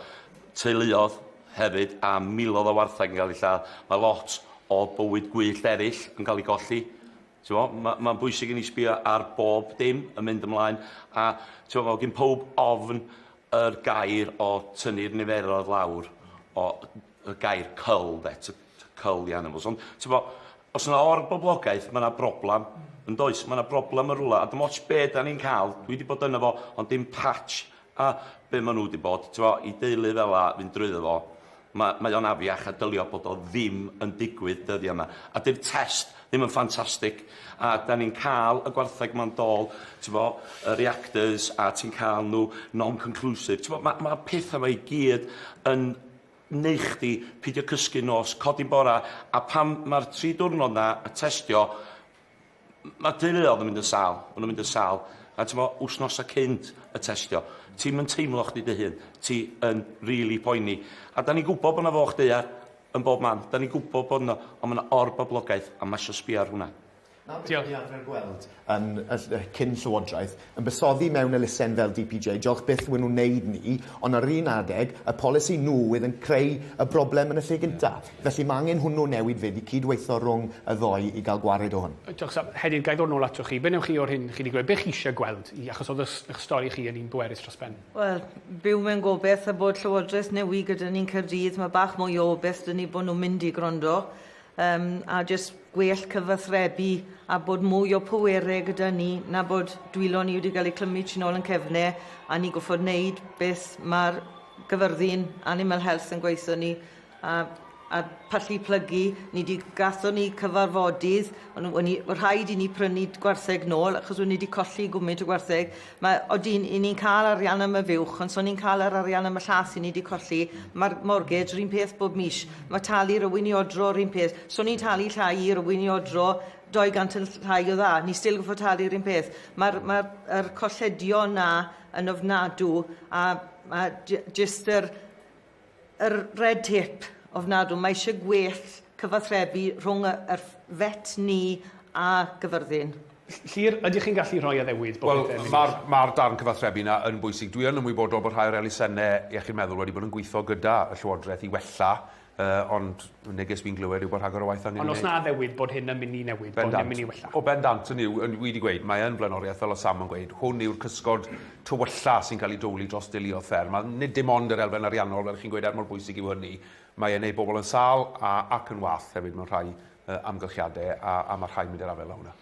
teuluodd hefyd a milodd o wartheg yn ga'l 'u lladd. Ma' lot o bywyd gwyllt eryll yn ca'l 'u golli. T'mo', ma' ma'n bwysig i ni sbio ar bob dim yn mynd ymlaen, a t'mo' fel gin powb ofn yr gair o tynnu'r niferoedd lawr, o y gair 'cull' 'de, to to cull the animals. Ond t'mo', os yna or-boblogaeth, ma' 'na broblam, yn does? Ma' 'na broblam yn rwla, a dim ots be' 'dan ni'n ca'l, dwi 'di bod yno fo, ond dim patch A be maen nhw 'di bod, tibod, i deulu fel 'na fynd drwyddo fo, ma- mae o'n afiach a dylio bod o ddim yn digwydd dyddia' 'ma. A 'di'r test ddim yn ffantastig, a 'dan ni'n ca'l y gwartheg 'ma'n dôl, t'bo', y reactors, a ti'n ca'l nhw non-conclusive. T'bo', ma' ma'r petha 'ma i gyd yn neu' chdi pidio cysgu nos, codi bora, a pan ma'r tri diwrnod 'na, y testio, M- ma' deuluodd yn mynd yn sâl, ma' nw'n mynd yn sâl, a t'mo' wsnosa cynt y testio, ti'm yn teimlo chdi dy hun, ti yn rili poeni. A 'dan ni'n gwbod bo' 'na foch daear yn bob man, 'dan ni'n gwbod bod 'na... On' ma' 'na or-boblogaeth, a ma' isio sbio ar hwnna. Dyna beth 'dan ni arfer gweld yn y ll- yy cyn-Llywodraeth, yn buddsoddi mewn elusen fel DPJ, diolch byth wyn nhw'n wneud ni, ond ar yr un adeg, y polisi nhw oedd yn creu y broblem yn y lle gynta'. Felly ma' angen hwnnw newid 'fyd i cyd-weitho rhwng y ddoe i gael gwared o hwn. Diolch Sam. Hedydd, ga i ddod nôl atoch chi? Be wnewch chi o'r hyn chi 'di glywed? Be chi eisiau gweld? Achos oedd eich stori chi yn un bwerus dros ben. Wel, byw mewn gobeith a bod Llywodraeth newi' gyda ni'n Caerdydd, ma' bach mwy o obeith 'da ni bod nhw'n mynd i gwrando Yym, a jyst gwell cyfathrebu a bod mwy o pwerau gyda ni na bod dwylo ni wedi cael eu clymu tu nôl yn cefne a ni gorfod wneud beth mae'r Gyfyrddin Animal Health yn gweutho ni a a pallu plygu. Ni 'di... Gathon ni cyfarfodydd, o'n nhw... O'n ni... Rhaid i ni prynu gwartheg nôl achos o'n ni 'di colli gwmint o gwartheg. Mae, odi, 'yn ni'n cael arian am y fuwch, ond 's o'n ni'n cael yr arian am y llall 'yn ni 'di colli. Mae'r mortgage 'r un peth bob mis. Mae talu rywun i odro 'r un peth. 'S o'n ni'n talu llai i rywun i odro 200 yn llai o dda, ni still gorfod talu 'r un peth. Mae'r ma' yr colledion 'na yn ofnadw, a ma' j- jyst yr Yr red tape ofnadw. Mae eisiau gwell cyfathrebu rhwng yr vet ni a Gyfyrddin. Llŷr, ydych chi'n gallu rhoi addewid bod pethau'n mynd... Wel, mae'r darn cyfathrebu yna yn bwysig. Dwi yn ymwybodol bod rhai o'r elusennau iechyd meddwl wedi bod yn gweithio gyda y Llywodraeth i wella, ond Y neges fi'n glywed yw bod rhagor o waith angen Ond os na newid, bod hyn yn mynd i newid, bod hyn yn mynd i wella. O bendant, hynny yw, wi wedi gweud, mae yn flaenoriaeth, fel oedd Sam yn gweud, hwn yw'r cysgod tywylla sy'n cael ei dowli dros deuluoedd fferm, a nid dim ond yr elfen ariannol, fel chi'n gweud, er mor bwysig yw hynny, mae e'n neud bobl yn sâl a ac yn wallt hefyd mewn rhai amgylchiadau, a a mae rhai'n mynd i'r afael â hwnna.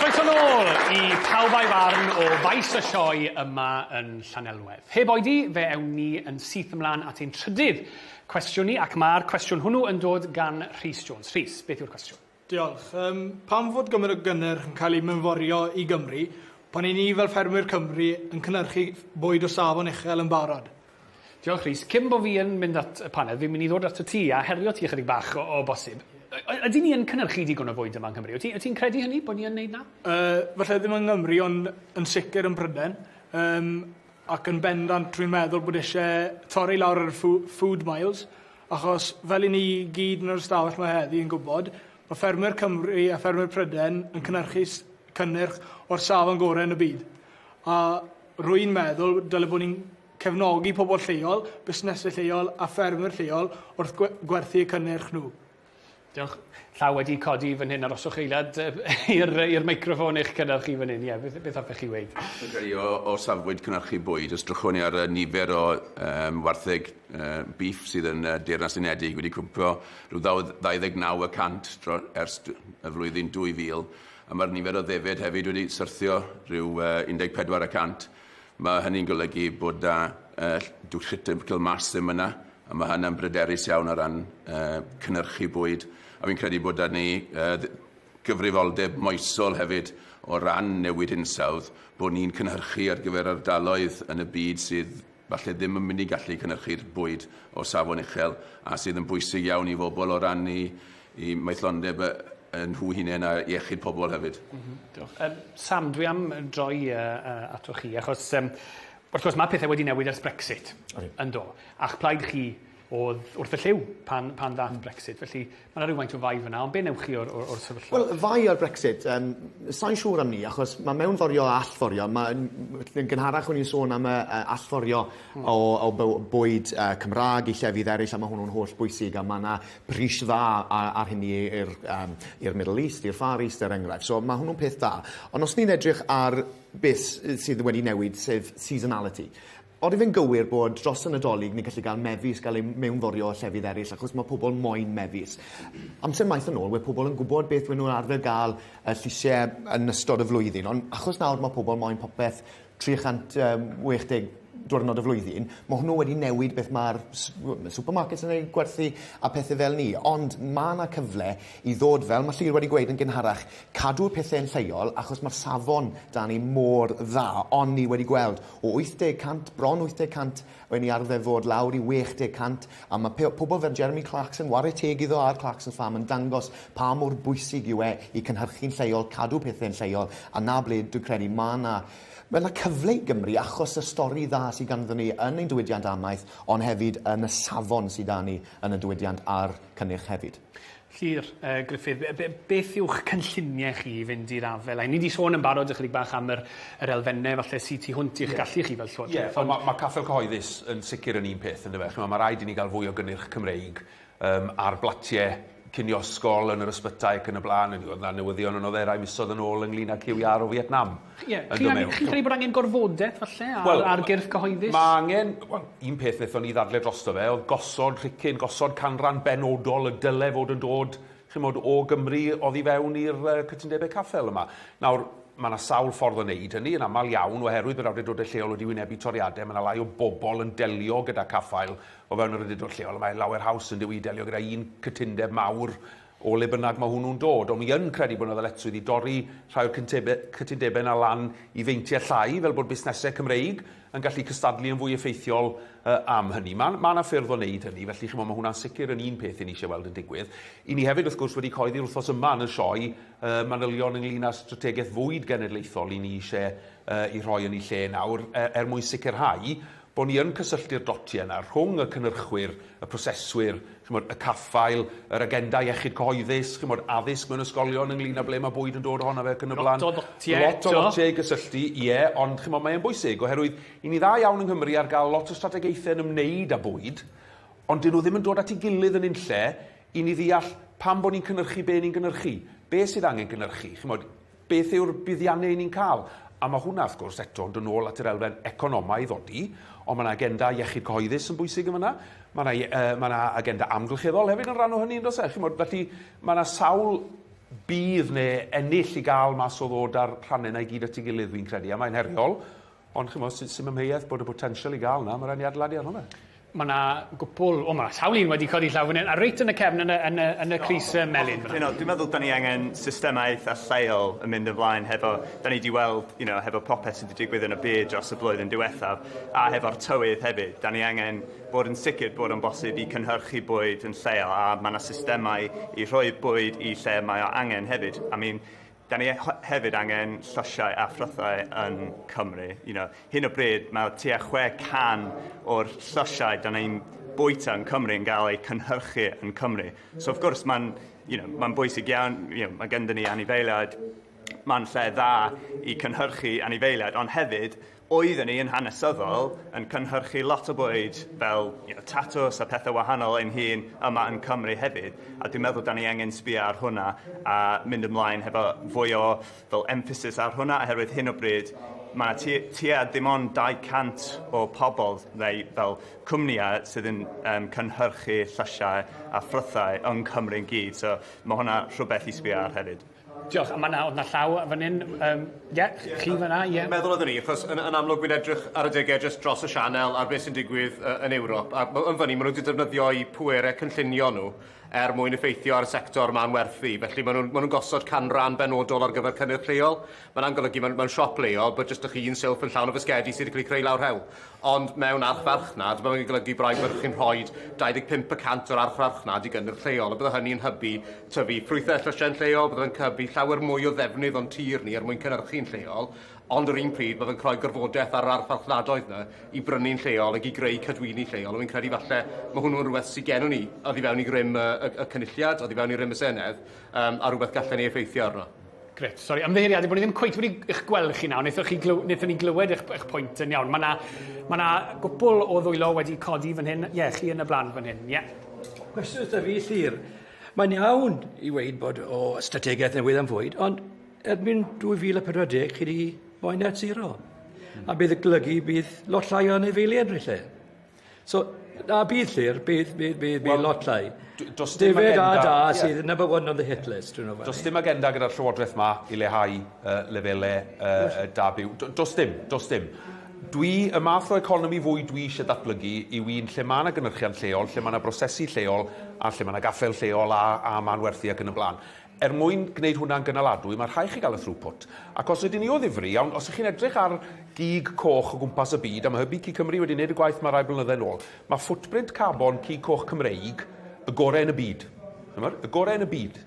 Croeso nôl i Pawb a'i Farn o Faes y Sioe yma yn Llanelwedd. Heb oedi, fe ewn ni yn syth ymlaen at ein trydydd cwestiwn ni, ac mae'r cwestiwn hwnnw yn dod gan Rhys Jones. Rhys, beth yw'r cwestiwn? Diolch. Um, pam fod gymaint o gynnyrch yn cael ei mynforio i Gymru pan i ni fel ffermwyr Cymru yn cynnyrchu bwyd o safon uchel yn barod? Diolch Rhys. Cyn bod fi yn mynd at y panel, fi'n mynd i ddod at y ti a herio ti ychydig bach o, o bosib. Ydy ni yn cynnyrchu digon o fwyd yma yng Nghymru? Wyt ti'n ti credu hynny, bod ni yn neud na? Uh, falle ddim yng Nghymru, ond yn sicr yn Pryden. Yym ac yn bendant dwi'n meddwl bod isie torri lawr ar y ffw- food miles achos fel 'yn ni gyd yn yr ystafell 'ma heddi yn gwbod ma' ffermwyr Cymru a ffermwyr Pryden yn cynyrchu s- cynnyrch o'r safon gore yn y byd a rwy'n meddwl dyle bo ni'n cefnogi pobol lleol, busnese lleol a ffermwyr lleol wrth gwe- gwerthu y cynnyrch nhw. Diolch. Llaw wedi codi fan hyn, aroswch eiliad i'r meicroffon eich cynnar chi fan hyn. Ie, beth, beth hoffech chi weid? Fi'n credu o, o safbwynt cynhyrchu bwyd, os drychwn ni ar y nifer o um, wartheg uh, beef sydd yn uh, Deyrnas Unedig wedi cwmpo rhyw 29 y cant ers y flwyddyn 2000, a mae'r nifer o ddefed hefyd wedi syrthio rhyw uh, 14 y cant. Mae hynny'n golygu bod 'na dull critical mass ddim yna, a mae hynna'n bryderus iawn o ran cynhyrchu bwyd. A fi'n credu bod 'da ni gyfrifoldeb moesol hefyd o ran newid hinsawdd, bod ni'n cynhyrchu ar gyfer ardaloedd yn y byd sydd falle ddim yn mynd i gallu cynhyrchu'r bwyd o safon uchel a sydd yn bwysig iawn i fobl o ran i i maethlondeb y, y nhw hunain a iechyd pobl hefyd. Mm -hmm. Diolch. Um, Sam, dwi am droi uh, uh, ato chi, achos um, wrth gwrs mae pethau wedi newid ers Brexit okay. yn do. A'ch plaid chi oedd wrth y lliw pan, pan ddath mm. Brexit. Felly mae yna rhywfaint o fai fyna, ond be newch chi o'r, or, or sefyllfa? Wel, fai o'r Brexit, um, sa'n siŵr am ni, achos mae mewn forio a allforio. Mae'n gynharach o'n i'n sôn am y uh, allforio mm. o, o bwyd uh, Cymraeg i llefydd eraill, a mae hwnnw'n holl bwysig, a mae yna pris dda a a'r hynny i'r yym i'r Middle East, i'r Far East er enghraifft. So ma' hwnnw'n peth da. Ond os ni'n edrych ar beth s- yy sydd wedi newid sef seasonality. Odi fe'n gywir bod dros y Nadolig ni'n gallu ga'l mefus ga'l eu mewnforio o llefydd eryll achos ma' pobol moyn mefus. Amser maith yn ôl we' pobol yn gwbod beth we' nw arfer ga'l y llysie yn ystod y flwyddyn on' achos nawr ma' pobol moyn popeth 360 diwrnod y flwyddyn, ma' hwnnw wedi newid beth ma'r s- w- ma' supermarkets yn ei gwerthu a pethe fel 'ny ond ma' 'na cyfle i ddod fel ma' Llŷr wedi gweud yn gynharach cadw'r pethe yn lleol achos ma'r safon 'da ni mor dda on' ni wedi gweld o wyth deg cant bron wyth deg cant O'n ni arfer fod lawr i 60 cant, a mae pe- pobl fel Jeremy Clarkson, ware teg iddo a'r Clarksons Farm, yn dangos pa mor bwysig yw e i cynhyrchu'n lleol, cadw pethe'n lleol, a 'na ble dwi'n credu mae 'na mae 'na cyfle i Gymru achos y stori dda sydd ganddon ni yn ein diwydiant amaeth, ond hefyd yn y safon sydd 'da ni yn y diwydiant a'r cynnyrch hefyd. Llyr yy Gruffydd be' be' beth yw'ch cynllunie chi i fynd i'r afel a 'yn ni 'di sôn yn barod ychydig bach am yr yr elfenne falle sy tu hwnt i'ch gallu chi fel Llywodraeth ond... Ie ma' ma' Caffael Cyhoeddus yn sicr yn un peth yndyfe ch'mo' ma' raid i ni ga'l fwy o gynnyrch Cymreig yym ar blatie cinio ysgol yn yr ysbytai ac yn y bla'n o'n i o'dd 'na newyddion yn Odderau misodd yn ôl ynglŷn â cyw iâr o Fietnam. Chi- ie. Chi'n angen chi'n credu bod angen gorfodaeth falle ar... Wel... ...ar gyrff cyhoeddus? Ma' angen, wel, un peth nethon ni ddadle drosto fe o'dd gosod rhicyn, gosod canran benodol y dyle fod yn dod, ch'mod, o Gymru oddi fewn i'r yy cytundebe caffael yma. Nawr, ma' 'na sawl ffordd o neud hynny, yn amal iawn, oherwydd bod awdurdode lleol wedi wynebu toriade, ma' 'na lai o bobol yn delio gyda caffael o fewn yr awdurdod lleol, a mae lawer haws yndyw 'i i delio gyda un cytundeb mawr o le bynnag mae hwnnw'n dod, ond mi yn credu bod yna ddyletswydd i dorri rhai o'r cytundebau yna lan i feintiau llai, fel bod busnesau Cymreig yn gallu cystadlu yn fwy effeithiol am hynny. Mae mae yna ffyrdd o wneud hynny, felly chimod, mae hwnna'n sicr yn un peth i ni eisiau weld yn digwydd. I ni hefyd, wrth gwrs, wedi coeddi'r wythnos yma yn y sioe manylion ynglyn â'r strategaeth fwyd genedlaethol i ni eisiau ei rhoi yn ei lle nawr, er mwyn sicrhau bod ni yn cysylltu'r dotiau yna rhwng y cynhyrchwyr, y proseswyr, chimod, y caffael, yr agenda iechyd cyhoeddus, chimod, addysg mewn ysgolion ynglŷn â ble mae bwyd yn dod ohono fe ac yn y blaen. Lot o ddotiau eto. Lot o ddotiau i gysylltu, ie, ond chimod, mae e'n bwysig oherwydd i ni dda iawn yng Nghymru ar gael lot o strategaethau yn ymwneud â bwyd, ond dyn nhw ddim yn dod at ei gilydd yn unlle i ni ddeall pam bod ni'n cynhyrchu be ni'n gynhyrchu, be sydd angen gynhyrchu, chimod, Beth yw'r buddiannau 'yn ni'n cael? A ma' hwnna, wrth gwrs, eto yn dod nôl at yr elfen economaidd ddodi, ond ma' 'na agenda iechyd cyhoeddus yn bwysig yn fan'na, ma' 'na ie- yy ma' 'na agenda amgylcheddol hefyd yn rhan o hynny yn does e? Chimod, felly ma' 'na sawl budd ne' ennill i ga'l mas o ddod â'r rhanne 'na i gyd at 'i gilydd, fi'n credu, a mae'n heriol, Ond chymod, sy'n sy amheuaeth bod y potensial i gael yna, mae rhaid ni adeiladu arno fe. Mae yna gwpl, o mae sawl un wedi codi llaw fan hyn, a reit yn y cefn yn y, yn y, yn y Cris Melin. You know, dwi'n meddwl da ni angen systemau eitha lleol yn mynd yn flaen hefo, da ni wedi weld, you know, hefo popeth sydd wedi digwydd yn y byd dros y blwyddyn diwethaf, a hefo'r tywydd hefyd, da ni angen bod yn sicr bod o'n bosib i cynhyrchu bwyd yn lleol, a mae yna systemau i rhoi bwyd i lle mae o angen hefyd. I mean, Da ni hefyd angen llysiau a phrythau yn Cymru. You know, hyn o bryd mae tua 600 o'r llysiau da ni'n bwyta yn Cymru yn cael eu cynhyrchu yn Cymru. So wrth gwrs mae'n you know, ma bwysig iawn, you know, mae gyda ni anifeiliaid, mae'n lle dda i cynhyrchu anifeiliaid, ond hefyd oedden ni yn hanesyddol yn cynhyrchu lot o bwyd fel you know, tatws a pethau wahanol ein hun yma yn Cymru hefyd. A dwi'n meddwl da ni angen sbio ar hwnna a mynd ymlaen hefo fwy o fel emphasis ar hwnna oherwydd hyn o bryd mae yna tua dim ond 200 o pobl neu fel cwmnïau sydd yn um, cynhyrchu llysiau a ffrwythau yng Cymru'n gyd. So mae hwnna rhywbeth i sbio ar hefyd. Diolch a ma' 'na o'dd 'na llaw yy fan 'yn yym ie chi fan 'na ie. Fi'n meddwl oddwn i achos yn yn amlwg wi'n edrych ar adege jyst dros y sianel ar be' sy'n digwydd yy yn Ewrop a ma' yn fynny ma' nw 'di defnyddio'u pwere cynllunio nhw er mwyn effeithio ar y sector ma'n werthu felly ma' nw'n ma' nw'n gosod canran benodol ar gyfer cynnyrch lleol ma' na'n golygu ma'n ma'n siop leol bod jyst 'dych chi un silff yn llawn o fisgedi sy' 'di ca'l 'i creu lawr rhewl Ond mewn archfarchnad, mae hyn yn golygu bod rhai fyrch yn rhoi 25 y cant o'r archfarchnad i gynnyrch lleol, a byddai hynny yn hybu tyfu ffrwythau a llysiau'n lleol, byddai fe'n hybu llawer mwy o ddefnydd o'n tir ni er mwyn cynhyrchu'n lleol, ond yr un pryd, mae fe'n rhoi gorfodaeth ar yr archfarchnadoedd 'na i brynu'n lleol ac i greu cadwyni lleol, a fi'n credu falle mae hwnnw yn rhywbeth sydd gennym ni oddi fewn i rym y, y, y Cynulliad, oddi fewn i rym y Senedd, yym, a rhywbeth gallen ni effeithio arno. Grêt. Sori, ymddiheuriade bod ni ddim cweit wedi eich gweld chi nawr. Wnaethon chi glyw- wnaethon ni glywed eich, eich pwynt yn iawn. Mae yna ma na gwpl o ddwylo wedi codi fan hyn. Ie, chi yn y blaen fan hyn. Ie. Cwestiwn wrtha fi, Llyr. Mae'n iawn i weid bod o strategaeth newydd am fwyd, ond erbyn 2040 chi wedi rhoi net zero. A bydd y golygu bydd lot llai o anifeiliaid yn y lle. So na bydd llyr bydd bydd bydd bydd well, lot llai. Does dim agenda... da da yeah. sydd number one on the hit list. You know, does dim agenda gyda'r llywodraeth ma i lehau uh, lefele uh, da byw. Does dim, does dim. Dwi, y math o economi fwy dwi eisiau datblygu yw un lle mae yna gynnyrchiant lleol, lle mae yna brosesu lleol, a lle mae yna gaffel lleol a, a ma'n werthu ac yn y blaen. Er mwyn gwneud hwnna'n gynaladwy, mae'n rhaid chi gael y throughput. Ac os ydyn ni o ddifri, iawn, os ych chi'n edrych ar gig coch o gwmpas y byd, a mae hybu Cig Cymru wedi gwneud y gwaith yma rai blynydde yn ôl, mae footprint carbon cig coch Cymreig y gorau yn y byd. Chimod? Y gorau yn y byd.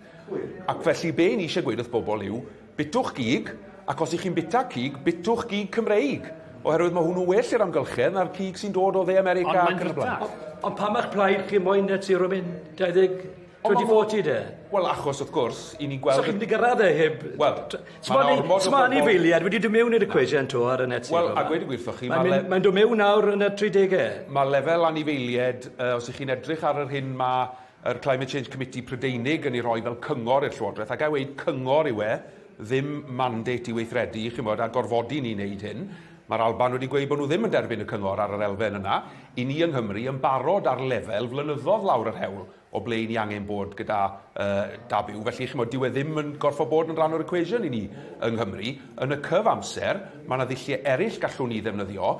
Ac felly, be 'yn ni eisiau gweud wrth bobl yw, bitwch gig, ac os 'y chi'n bita cig, bitwch gig Cymreig, oherwydd mae hwnnw well i'r amgylchedd na'r cig sy'n dod o Dde America ac yn y blaen. Ond pam a'ch plaid chi moyn net zero mynd 2050? 2040 de? Wel achos wrth gwrs i ni'n gweld... So chi'n mynd i gyrraedd e heb... Wel... Sma anifeiliad wedi dod mewn i'r equation to ar y net Wel a gweud y gwir wrthoch chi ma' le... Mae'n dod mewn nawr yn y 30e. Mae lefel anifeiliad uh, os ych chi'n edrych ar yr hyn mae yr Climate Change Committee Prydeinig yn ei rhoi fel cyngor i'r Llywodraeth ac a weud cyngor yw e ddim mandate i weithredu chi'n bod a gorfodi ni wneud hyn Mae'r Alban wedi gweud bod nhw ddim yn derbyn y cyngor ar yr elfen yna. I ni yng Nghymru yn barod ar lefel flynyddoedd lawr yr hewl o ble 'yn ni angen bod gyda uh, da byw. Felly, chymod, dyw e ddim yn gorfod bod yn rhan o'r equation i ni yng Nghymru. Yn y cyf amser, mae yna ddulliau eraill gallwn ni ddefnyddio.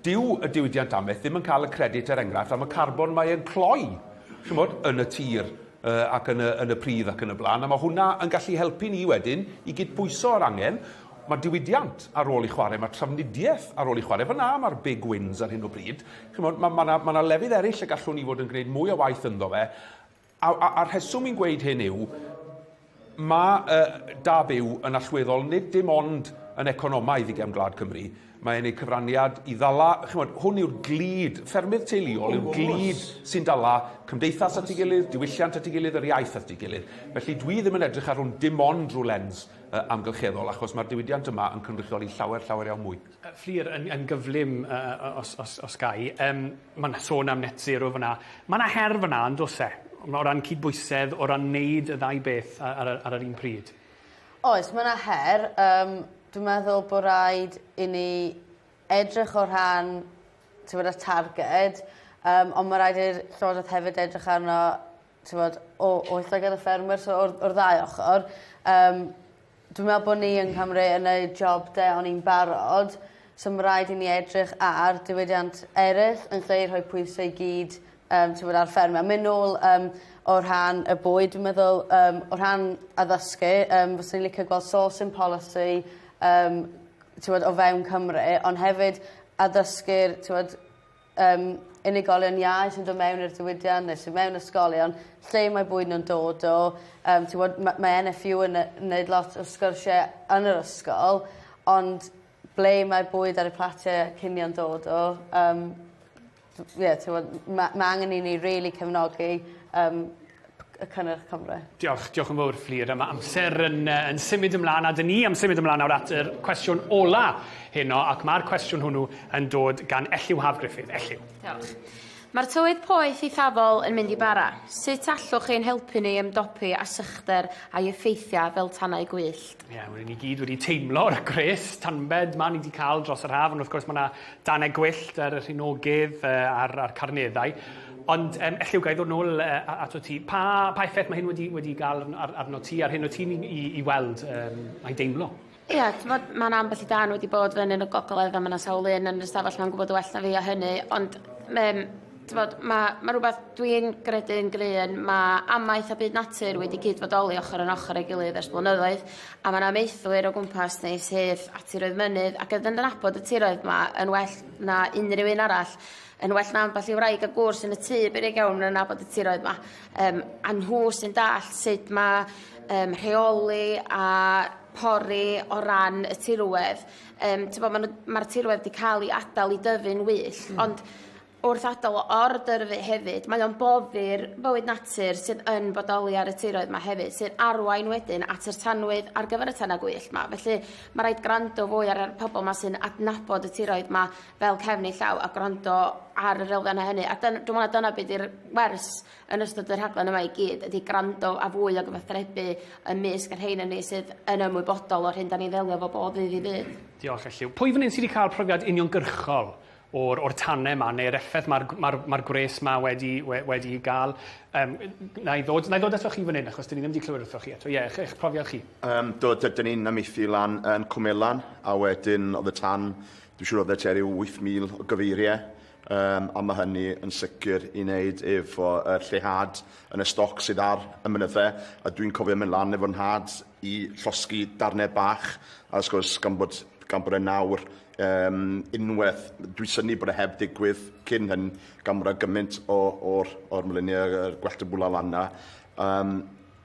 Dyw y diwydiant amaeth ddim yn cael y credit, er enghraifft, am y carbon mae e'n cloi, chymod, yn y tir uh, ac yn y, yn y pridd ac yn y blaen, a mae hwnna yn gallu helpu ni wedyn i gydbwyso yr angen mae diwydiant ar ôl i chwarae, mae trafnidiaeth ar ôl i chwarae. Fyna mae'r big wins ar hyn o bryd. Chimod, mae 'na ma' 'na lefydd eraill y gallwn ni fod yn gwneud mwy o waith ynddo fe, a, a, a'r rheswm i'n gweud hyn yw, mae uh, da byw yn allweddol nid dim ond yn economaidd i gefn gwlad Cymru, mae e'n ei cyfraniad i ddala, chymod, hwn yw'r glid, ffermydd teuluol yw'r glid sy'n dala cymdeithas at ei gilydd, diwylliant at ei gilydd, yr iaith at ei gilydd. Felly dwi ddim yn edrych ar hwn dim ond rhyw lens uh, amgylcheddol, achos mae'r diwydiant yma yn cynrychioli llawer, llawer iawn mwy. Yy Fflur yn yn gyflym yy yy o- os os os gai. Yym ma' 'na sôn am net zero fan 'na. Ma' 'na her fan 'na yndos e? Ma' o ran cydbwysedd o ran neud y ddau beth a- ar y ar yr un pryd. Oes ma' 'na her yym dwi meddwl bo' raid i ni edrych o rhan t'mod y targed yym on' ma' raid i'r llywodreth hefyd edrych arno t'mod o o itha gyda ffermwyr so o'r o'r ddau ochor yym dwi me'wl bo' ni yng Nghymru yn neud job 'da on' i'n barod so ma' raid i ni edrych ar diwydiant eryll yn lle i rhoi pwyse i gyd yym t'mod ar ffermio. A myn' nôl yym o rhan y bwyd dwi meddwl yym o rhan addysgu yym fyswn i licio gweld sourcing policy yym t'mod o fewn Cymru ond hefyd addysgu'r t'mod Yym, unigolion iau sy'n dod mewn i'r diwydiant neu sy mewn ysgolion lle mae bwyd nhw'n dod o yym t'wod ma' mae NFU yn yy neud lot o sgyrsie yn yr ysgol ond ble mae'r bwyd ar y platie cinio'n dod o yym dw- ie t'mod m- ma' ma' angen i ni rili cefnogi yym y cynnyrch Cymru. Diolch, diolch yn fawr Fflur. Mae amser yn, uh, yn symud ymlaen a dyn ni am symud ymlaen nawr at yr cwestiwn ola heno ac mae'r cwestiwn hwnnw yn dod gan Elliw Haf Griffith. Elliw. Diolch. Mae'r tywydd poeth eithafol yn mynd i bara. Sut allwch chi'n helpu ni ymdopi â sychder a'i effeithiau fel tanau gwyllt? Ie, yeah, rydyn ni gyd wedi teimlo'r gwres tanbed ma ni wedi cael dros yr haf, ond wrth gwrs mae yna danau gwyllt ar y rhinogydd a'r, ar carneddau. Ond um, elliw gael ddod nôl uh, ato ti. Pa, pa effaith mae hyn wedi, wedi gael ar, arno ti, ar hyn o ti'n i, i weld um, mae'n deimlo? Ie, yeah, tymod, mae'n ambell i dan wedi bod fy yn y gogledd a mae'n sawl un yn yr ystafell mae'n gwybod well na fi o hynny, ond um, tymod, mae, mae rhywbeth dwi'n gredu'n gryfn, mae amaeth a byd natur wedi cyd fodoli ochr yn ochr ei gilydd ers blynyddoedd, a mae'n amaethwyr o gwmpas ni sydd at tiroedd mynydd ac yn yn abod y tiroedd yma yn well na unrhyw un arall. Yn well na ambell i wraig a gŵr sy yn y tŷ beryg iawn yn nabod y tiroedd 'ma. Yym a nhw sy'n dallt sut ma' yym rheoli a pori o ran y tirwedd. Yym t'bo' ma' n'w ma'r tirwedd 'di ca'l 'i adal i dyfu'n wyllt. Hmm. Ond wrth adal o ordyrfu hefyd mae o'n boddi'r bywyd natur sydd yn bodoli ar y tiroedd 'ma hefyd sy'n arwain wedyn at yr tanwydd ar gyfer y tana gwyllt 'ma. Felly ma' raid grando fwy ar yr pobol 'ma sy'n adnabod y tiroedd 'ma fel cefn ei llaw a gwrando ar yr elfennau hynny. A dyn, dwi'n meddwl na dyna beth i'r wers yn ystod y rhaglen yma i gyd, ydy gwrando a fwy o gyfathrebu ym mysg y rhein yn ni sydd yn ymwybodol o'r hyn da ni ddelio fo bob ddydd i ddydd. Diolch, Elliw. Pwy fan hyn sydd wedi cael profiad uniongyrchol o'r, or tanau yma, neu'r effaith mae'r ma ma, ma gwres yma wedi, we, wedi ei gael? Um, na, i ddod, na i ddod ato chi fan hyn, achos dyn ni ddim wedi clywed wrthoch chi eto. Ie, yeah, eich profiad chi? Um, do, dyn ni'n ymeithi lan yn Cwmelan, a wedyn oedd y tan Dwi'n siŵr oeddet ti ar ryw 8,000 o gyfeiriau, um, a mae hynny yn sicr i wneud efo y lleihad yn y stoc sydd ar y mynyddau, a dwi'n cofio mynd lan efo'r nhad i llosgi darnau bach, a wrth gwrs gan bod, gan bod e nawr um, unwaith, dwi'n syni bod e heb ddigwydd cyn hyn, gan bod e gymaint o'r or mluniau, y gwellt y bwla lan na, um,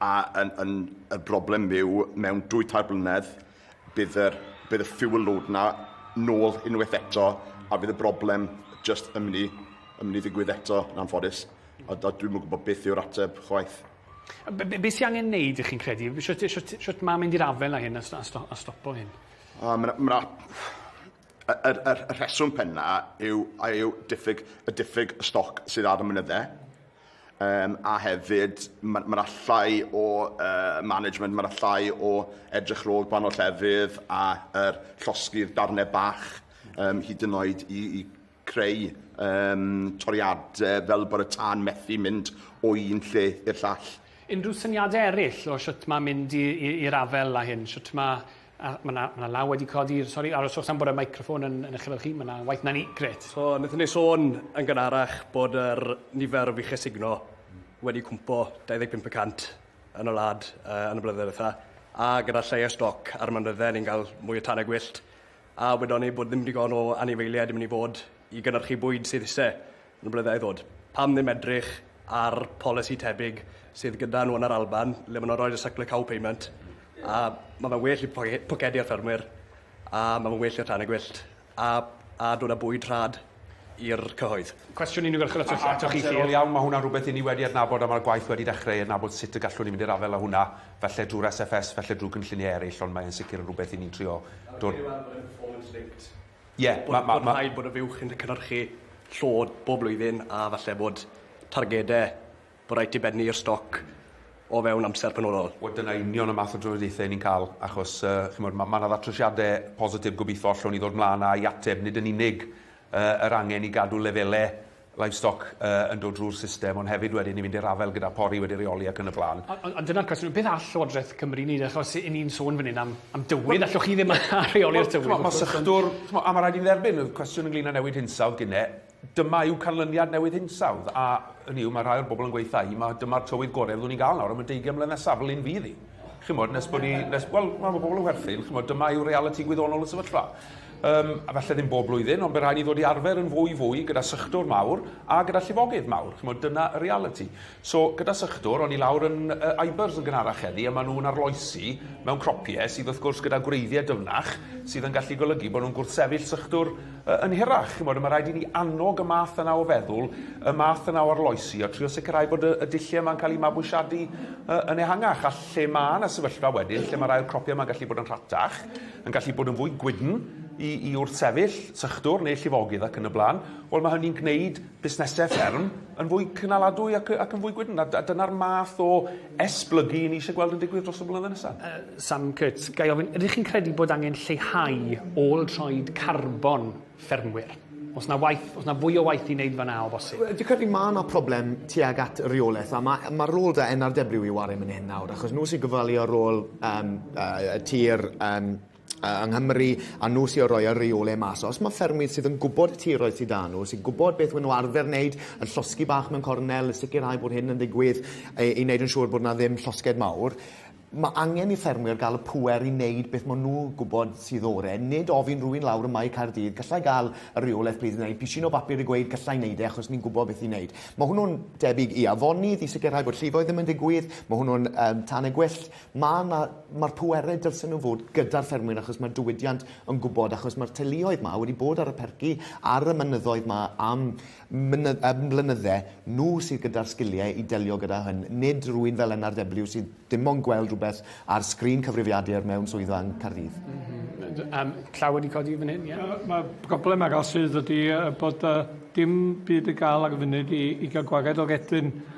a yn, yn, y broblem yw mewn dwy tair blynedd, Bydd yr bydd y fuel load 'na nôl unwaith eto a bydd y broblem jyst yn myn' i yn myn' i ddigwydd eto yn anffodus a a dwi'm yn gwbo beth yw'r ateb chwaith. A be' be' be' sy angen neud 'ych chi'n credu? Shwt shwt shwt ma' mynd i'r afael â hyn a sto- a sto- a stopo hyn? O ma' 'na ma' 'na Y, y, y, y rheswm penna yw, yw diffyg, y diffyg y stoc sydd ar y mynyddau, um, a hefyd mae ma allai o uh, management, mae allai o edrych rôl gwahanol llefydd a er, llosgi'r darnau bach um, hyd yn oed i, i creu um, toriadau fel bod y tân methu mynd o un lle i'r llall. Unrhyw syniadau eraill o sut mae mynd i'r afel a hyn? Sut mae... Mae yna ma law wedi codi, sori, aroswch am bod y microffon yn, yn eich efo chi, mae yna waith na ni, gret. So, wnaethon ni sôn yn gynharach bod yr nifer o fuchau signo wedi cwmpo 25% yn y wlad uh, yn y blynyddoedd eitha, a gyda lleia stoc ar mynydde ni'n cael mwy o tanau gwyllt. A wedon ni bod ddim digon o anifeiliaid yn mynd i fod i gynyrchu bwyd sydd isie yn y blynydda i ddod. Pam ddim edrych ar polisi tebyg sydd gyda nhw yn yr Alban le maen nhw'n rhoi'r suckler cow payment a mae fe'n well i pocedi ar ffermwyr a mae fe'n well i'r tanau gwyllt a a dod â bwyd rhad. i'r cyhoedd. Cwestiwn unigolchel atoch chi, Siân. Amserol iawn, mae hwnna'n rhywbeth i ni wedi adnabod a mae'r gwaith wedi dechrau i adnabod sut y gallwn ni mynd i'r afael â hwnna, falle drwy'r SFS, falle drwy gynlluniau eraill, ond mae e'n sicr yn rhywbeth i ni'n trio dod... Rwy'n meddwl bod e'n performance linked. Ie, mae... mae... Bod rhaid bod y fuwch yn cynhyrchu llod bob blwyddyn a falle bod targedau Bod rhaid ti bennu i'r stoc o fewn amser penodol. Wel dyna union y math o drafodaethau y'n ni'n cael achos yy ch'mod ma' ma' 'na ddatrysiade positif gobeitho allwn ni ddod mlaen â i ateb nid yn unig yy yr angen i gadw lefele livestock yy yn dod drwy'r system ond hefyd wedyn i fynd i'r afael gyda pori wedi reoli ac yn y blaen. Ond ond ond dyna'r cwestiwn, beth all Llywodraeth Cymru wneud achos 'yn ni'n sôn fan hyn am am dywydd, allwch chi ddim reoli'r tywydd wrth gwrs ond... Ch'mod ma' sector ch'mo' a ma' raid i ni dderbyn o'dd cwestiwn ynglŷn â newid hinsawdd gine Dyma yw canlyniad newid hinsawdd, a yn yw, mae rhai o'r bobl yn gweitha i, mae dyma'r tywydd gorau fyddwn ni'n gael nawr am y 20 mlynedd nesaf, fel un fydd hi. Chymod, nes bod ni, nes, wel, mae bobl yn werthu'n, chymod, dyma yw reality gwyddonol y sefyllfa. Um, a felly ddim bob blwyddyn, ond bydd rhaid ni ddod i arfer yn fwy fwy gyda sychdwr mawr a gyda llifogydd mawr. Chymod, dyna y reality. So, gyda sychdwr, o'n i lawr yn uh, Ibers yn gynharach heddi, a maen nhw'n arloesi mewn cropiau sydd wrth gwrs gyda gwreiddiau dyfnach sydd yn gallu golygu bod nhw'n gwrthsefyll sychdwr Yn hirach, chimod, mae rhaid i ni annog y math yna o feddwl, y math yna o arloesi, a trio sicrhau bod y, y dulliau yma'n cael eu mabwysiadu uh, yn ehangach, a lle mae yna sefyllfa wedyn, lle mae'r ail cropiau yma'n gallu bod yn rhatach, yn gallu bod yn fwy gwydn, i, i wrthsefyll sychdwr neu llifogydd ac yn y blaen, wel mae hynny'n gwneud busnesau fferm yn fwy cynaladwy ac yn fwy gwydn, a dyna'r math o esblygu i ni eisiau gweld yn digwydd dros y blynyddoedd nesaf. Sam Kurtz, ga i ofyn, ydych chi'n credu bod angen lleihau ôl troed carbon ffermwyr? Oes na waith, oes na fwy o waith i wneud fan'na o bosib? Dwi'n credu ma' na problem tuag at reolaeth, a ma' ma' rôl da NRW i ware man hyn nawr, achos nhw sy'n gofalu ar ôl yym yy y tir yym yng Nghymru a nhw sydd o roi yr reole mas. Os mae ffermwydd sydd yn gwybod y tiroedd sydd â nhw, sy'n gwybod beth maen nhw arfer wneud, yn llosgi bach mewn cornel, sicrhau bod hyn yn ddigwydd, e, i wneud yn siŵr bod yna ddim llosged mawr, mae angen i ffermwyr gael y pŵer i wneud beth maen nhw'n gwybod sydd ore, nid ofyn rwy'n lawr ym Mae Caerdydd, gallai gael y reolaeth plîs neu pishin o bapur i gweud gallai wneud e achos ni'n gwybod beth i wneud. Mae hwnnw'n debyg i afonydd i sicrhau bod llifoedd ddim yn digwydd, mae hwnnw'n um, tanau gwyllt, Ma' 'na... Ma'r pwerau dylsen nhw fod gyda'r ffermwyr achos mae'r diwydiant yn gwybod, achos mae'r teuluoedd 'ma wedi bod ar y perci ar y mynyddoedd 'ma am myny- am flynydde, nhw sydd gyda'r sgiliau i delio gyda hyn, nid rywun fel NRW sydd dim ond gweld rhywbeth ar sgrin cyfrifiadur mewn swyddfa yng Nghaerdydd. Yym, llaw wedi codi fan hyn, ie. Yy, mae'r broblem arall sydd ydy yy bod yy dim byd i gael ar y funud i i gael gwared o redyn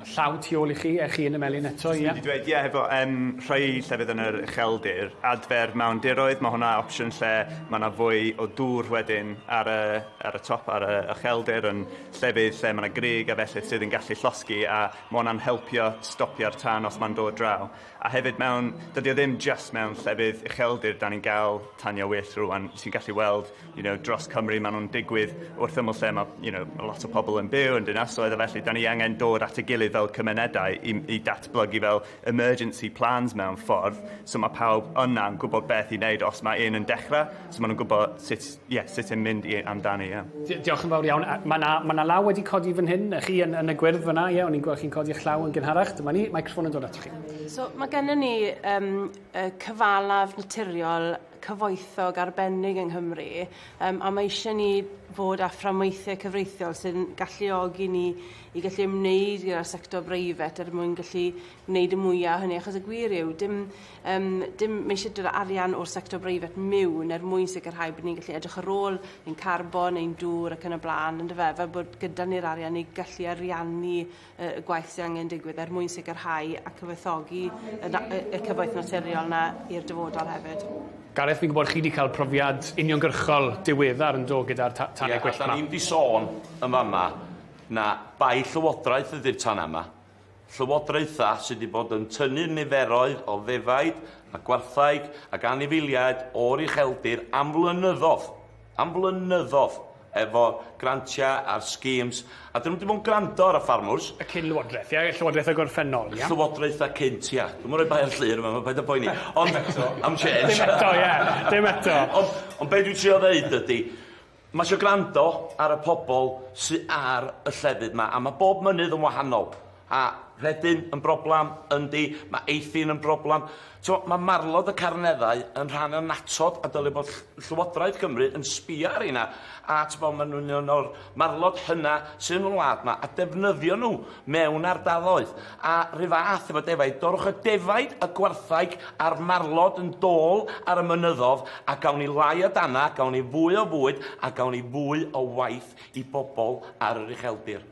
Llaw tu ôl i chi, ewch i un y melin eto, ie. Dwi 'di dweud ie hefo yym rhoi llefydd yn yr ucheldir. Adfer mawndiroedd, ma' hwnna opsiwn lle ma' 'na fwy o dŵr wedyn ar y ar y top ar y ucheldir yn llefydd lle ma' 'na grug a felly sydd yn gallu llosgi a ma' hwnna'n helpio stopio'r tân os ma'n dod draw. A hefyd mewn dydi o ddim jyst mewn llefydd ucheldir 'dan ni'n ga'l taniau wyllt rŵan ti'n gallu weld you know dros Cymru ma' nw'n digwydd wrth ymyl lle ma' you know ma' lot o pobol yn byw yn dinasoedd a felly 'dan ni angen dod at ei gilydd fel cymunedau i m- i datblygu fel emergency plans mewn ffordd so ma' pawb yna'n gwbod beth i neud os ma' un yn dechre so ma' nw'n gwbo sut ie sut yn mynd i amdani ie. Di- diolch yn fawr iawn a ma' 'na ma' 'na law wedi codi fan hyn yy chi yn yn y gwyrdd fan 'na ie o'n i'n gwel' chi'n codi'ch llaw yn gynharach dyma ni meicroffon yn dod atoch chi. So ma' gynnon ni yym yy cyfalaf naturiol cyfoethog arbennig yng Nghymru yym a mae eisiau ni fod â fframweithiau cyfreithiol sy'n galluogi ni i gallu ymwneud gyda'r sector breifat er mwyn gallu gwneud y mwyaf hynny achos y gwir yw dim yym dim mae eisiau dod â arian o'r sector breifat miwn er mwyn sicrhau bod ni'n gallu edrych ar ôl ein carbon ein dŵr ac yn y blaen yndyfe fel bod gyda ni'r arian i gallu ariannu y gwaith sydd angen digwydd er mwyn sicrhau a cyfoethogi y cyfoeth naturiol yna i'r dyfodol hefyd. Gareth, fi'n gwybod chi wedi cael profiad uniongyrchol diweddar yn do gyda'r ta tanau yeah, gwyllt yma. Ie, ni'n di sôn yn fama na bai llywodraeth ydy'r tan yma. Llywodraethau sydd wedi bod yn tynnu niferoedd o ddefaid a gwarthaig ac anifeiliaid o'r ucheldir am flynyddoedd. am flynyddodd efo grantiau a'r schemes, a dyn nhw wedi bod yn gwrando ar y ffarmwrs. Y cyn lywodraeth, ia? Y llywodraeth y gorffennol, ia? Llywodraethau cynt, ia. Dwi'm yn rhoi bai ar Llŷr yma, paid â poeni. Ond... Dim eto. Am change. Dim eto, ie. Dim eto. Ond, ond be' dwi'n trio ddeud ydi, ma' isio gwrando ar y pobol sy ar y llefydd 'ma, a ma' bob mynydd yn wahanol. A rhedyn yn broblam? Yndi. Mae eithin yn broblam. T'mo', mae marlod y carneddau yn rhan annatod a dyle bod ll- Llywodraeth Cymru yn sbio ar reina a, t'mo', maen nhw'n un o'r marlod hynna sy yn y wlad 'ma, a defnyddio nhw mewn ardaloedd. A 'run fath efo defaid, dorrwch y defaid, y gwartheg a'r marlod yn dôl ar y mynyddodd a gawn ni lai o dana, gawn ni fwy o fwyd a gawn ni fwy o waith i bobl ar yr ucheldir.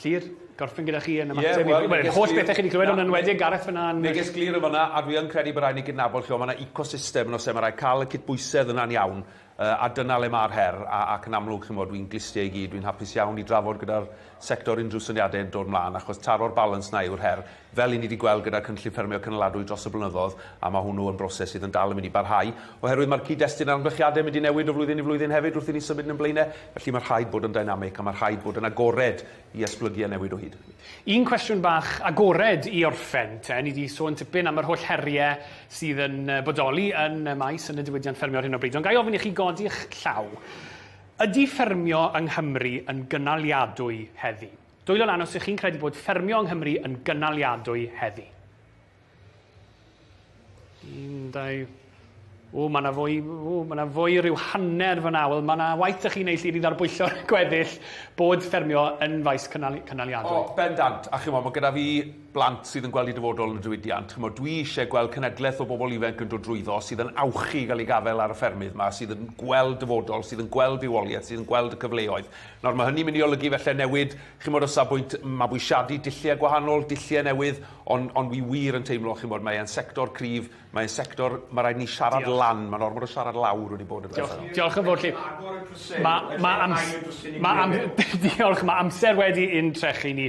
Llŷr, gorffen gyda chi yn ymateb... Ie, wel... ...yr holl bethe chi 'di clywed, ond yn enwedig Gareth fyn 'na yn... Neges glir yn fanna, a dwi yn credu bo' raid ni gydnabod lle o ma' 'na ecosystem yno lle ma' raid ca'l y cydbwysedd yna'n iawn yy a dyna le ma'r her a ac yn amlwg chi'n 'mod dwi'n glustie i gyd dwi'n hapus iawn i drafod gyda'r sector unrhyw syniade yn dod mlan achos taro'r balans 'na yw'r her. Fel i ni 'di gweld gyda'r Cynllun Ffermio Cynaladwy dros y blynyddoedd, a ma' hwnnw yn broses sydd yn dal yn mynd i barhau, oherwydd ma'r cyd-destun a'r amgylchiade yn mynd i newid o flwyddyn i flwyddyn hefyd wrth i ni symud yn ein blaen e, felly ma' rhaid bod yn dynamic a ma' rhaid bod yn agored i esblygu a newid o hyd o hyd. Un cwestiwn bach agored i orffen te, ni 'di sôn tipyn am yr holl herie sydd yn bodoli yn y maes, yn y diwydiant ffermio ar hyn o bryd, ond ga' i ofyn i chi godi'ch llaw, ydi ffermio yng Nghymru yn gynaliadwy heddi? Dwylo lan os ych chi'n credu bod ffermio yng Nghymru yn gynaliadwy heddi. Un, dau... O, mae yna fwy, o, mae yna fwy rhyw hanner fyna. Wel, mae yna waith ych chi'n ei llinydd ar bwyllo'r gweddill bod ffermio yn faes cynal, cynaliadwy. O, bendant. A chymod, mae gyda fi blant sydd yn gweld i dyfodol yn y diwydiant. Chymod, dwi eisiau gweld cenedlaeth o bobl ifanc yn dod drwyddo sydd yn awchu i gael ei gafael ar y ffermydd yma, sydd yn gweld dyfodol, sydd yn gweld rhywoliaeth, sydd yn gweld y cyfleoedd. Nawr, mae hynny'n mynd i olygu falle newid, chimod, o safbwynt mabwysiadu dulliau gwahanol, dulliau newydd, ond ond wi wir yn teimlo, chimod, mae e'n sector cryf, mae e'n sector ma' raid ni siarad lan, ma'n ormod o siarad lawr wedi bod yn Diolch, diolch yn fowr chi. Ma' ma' ams- ma' am- diolch, ma' amser wedi ein trechu ni.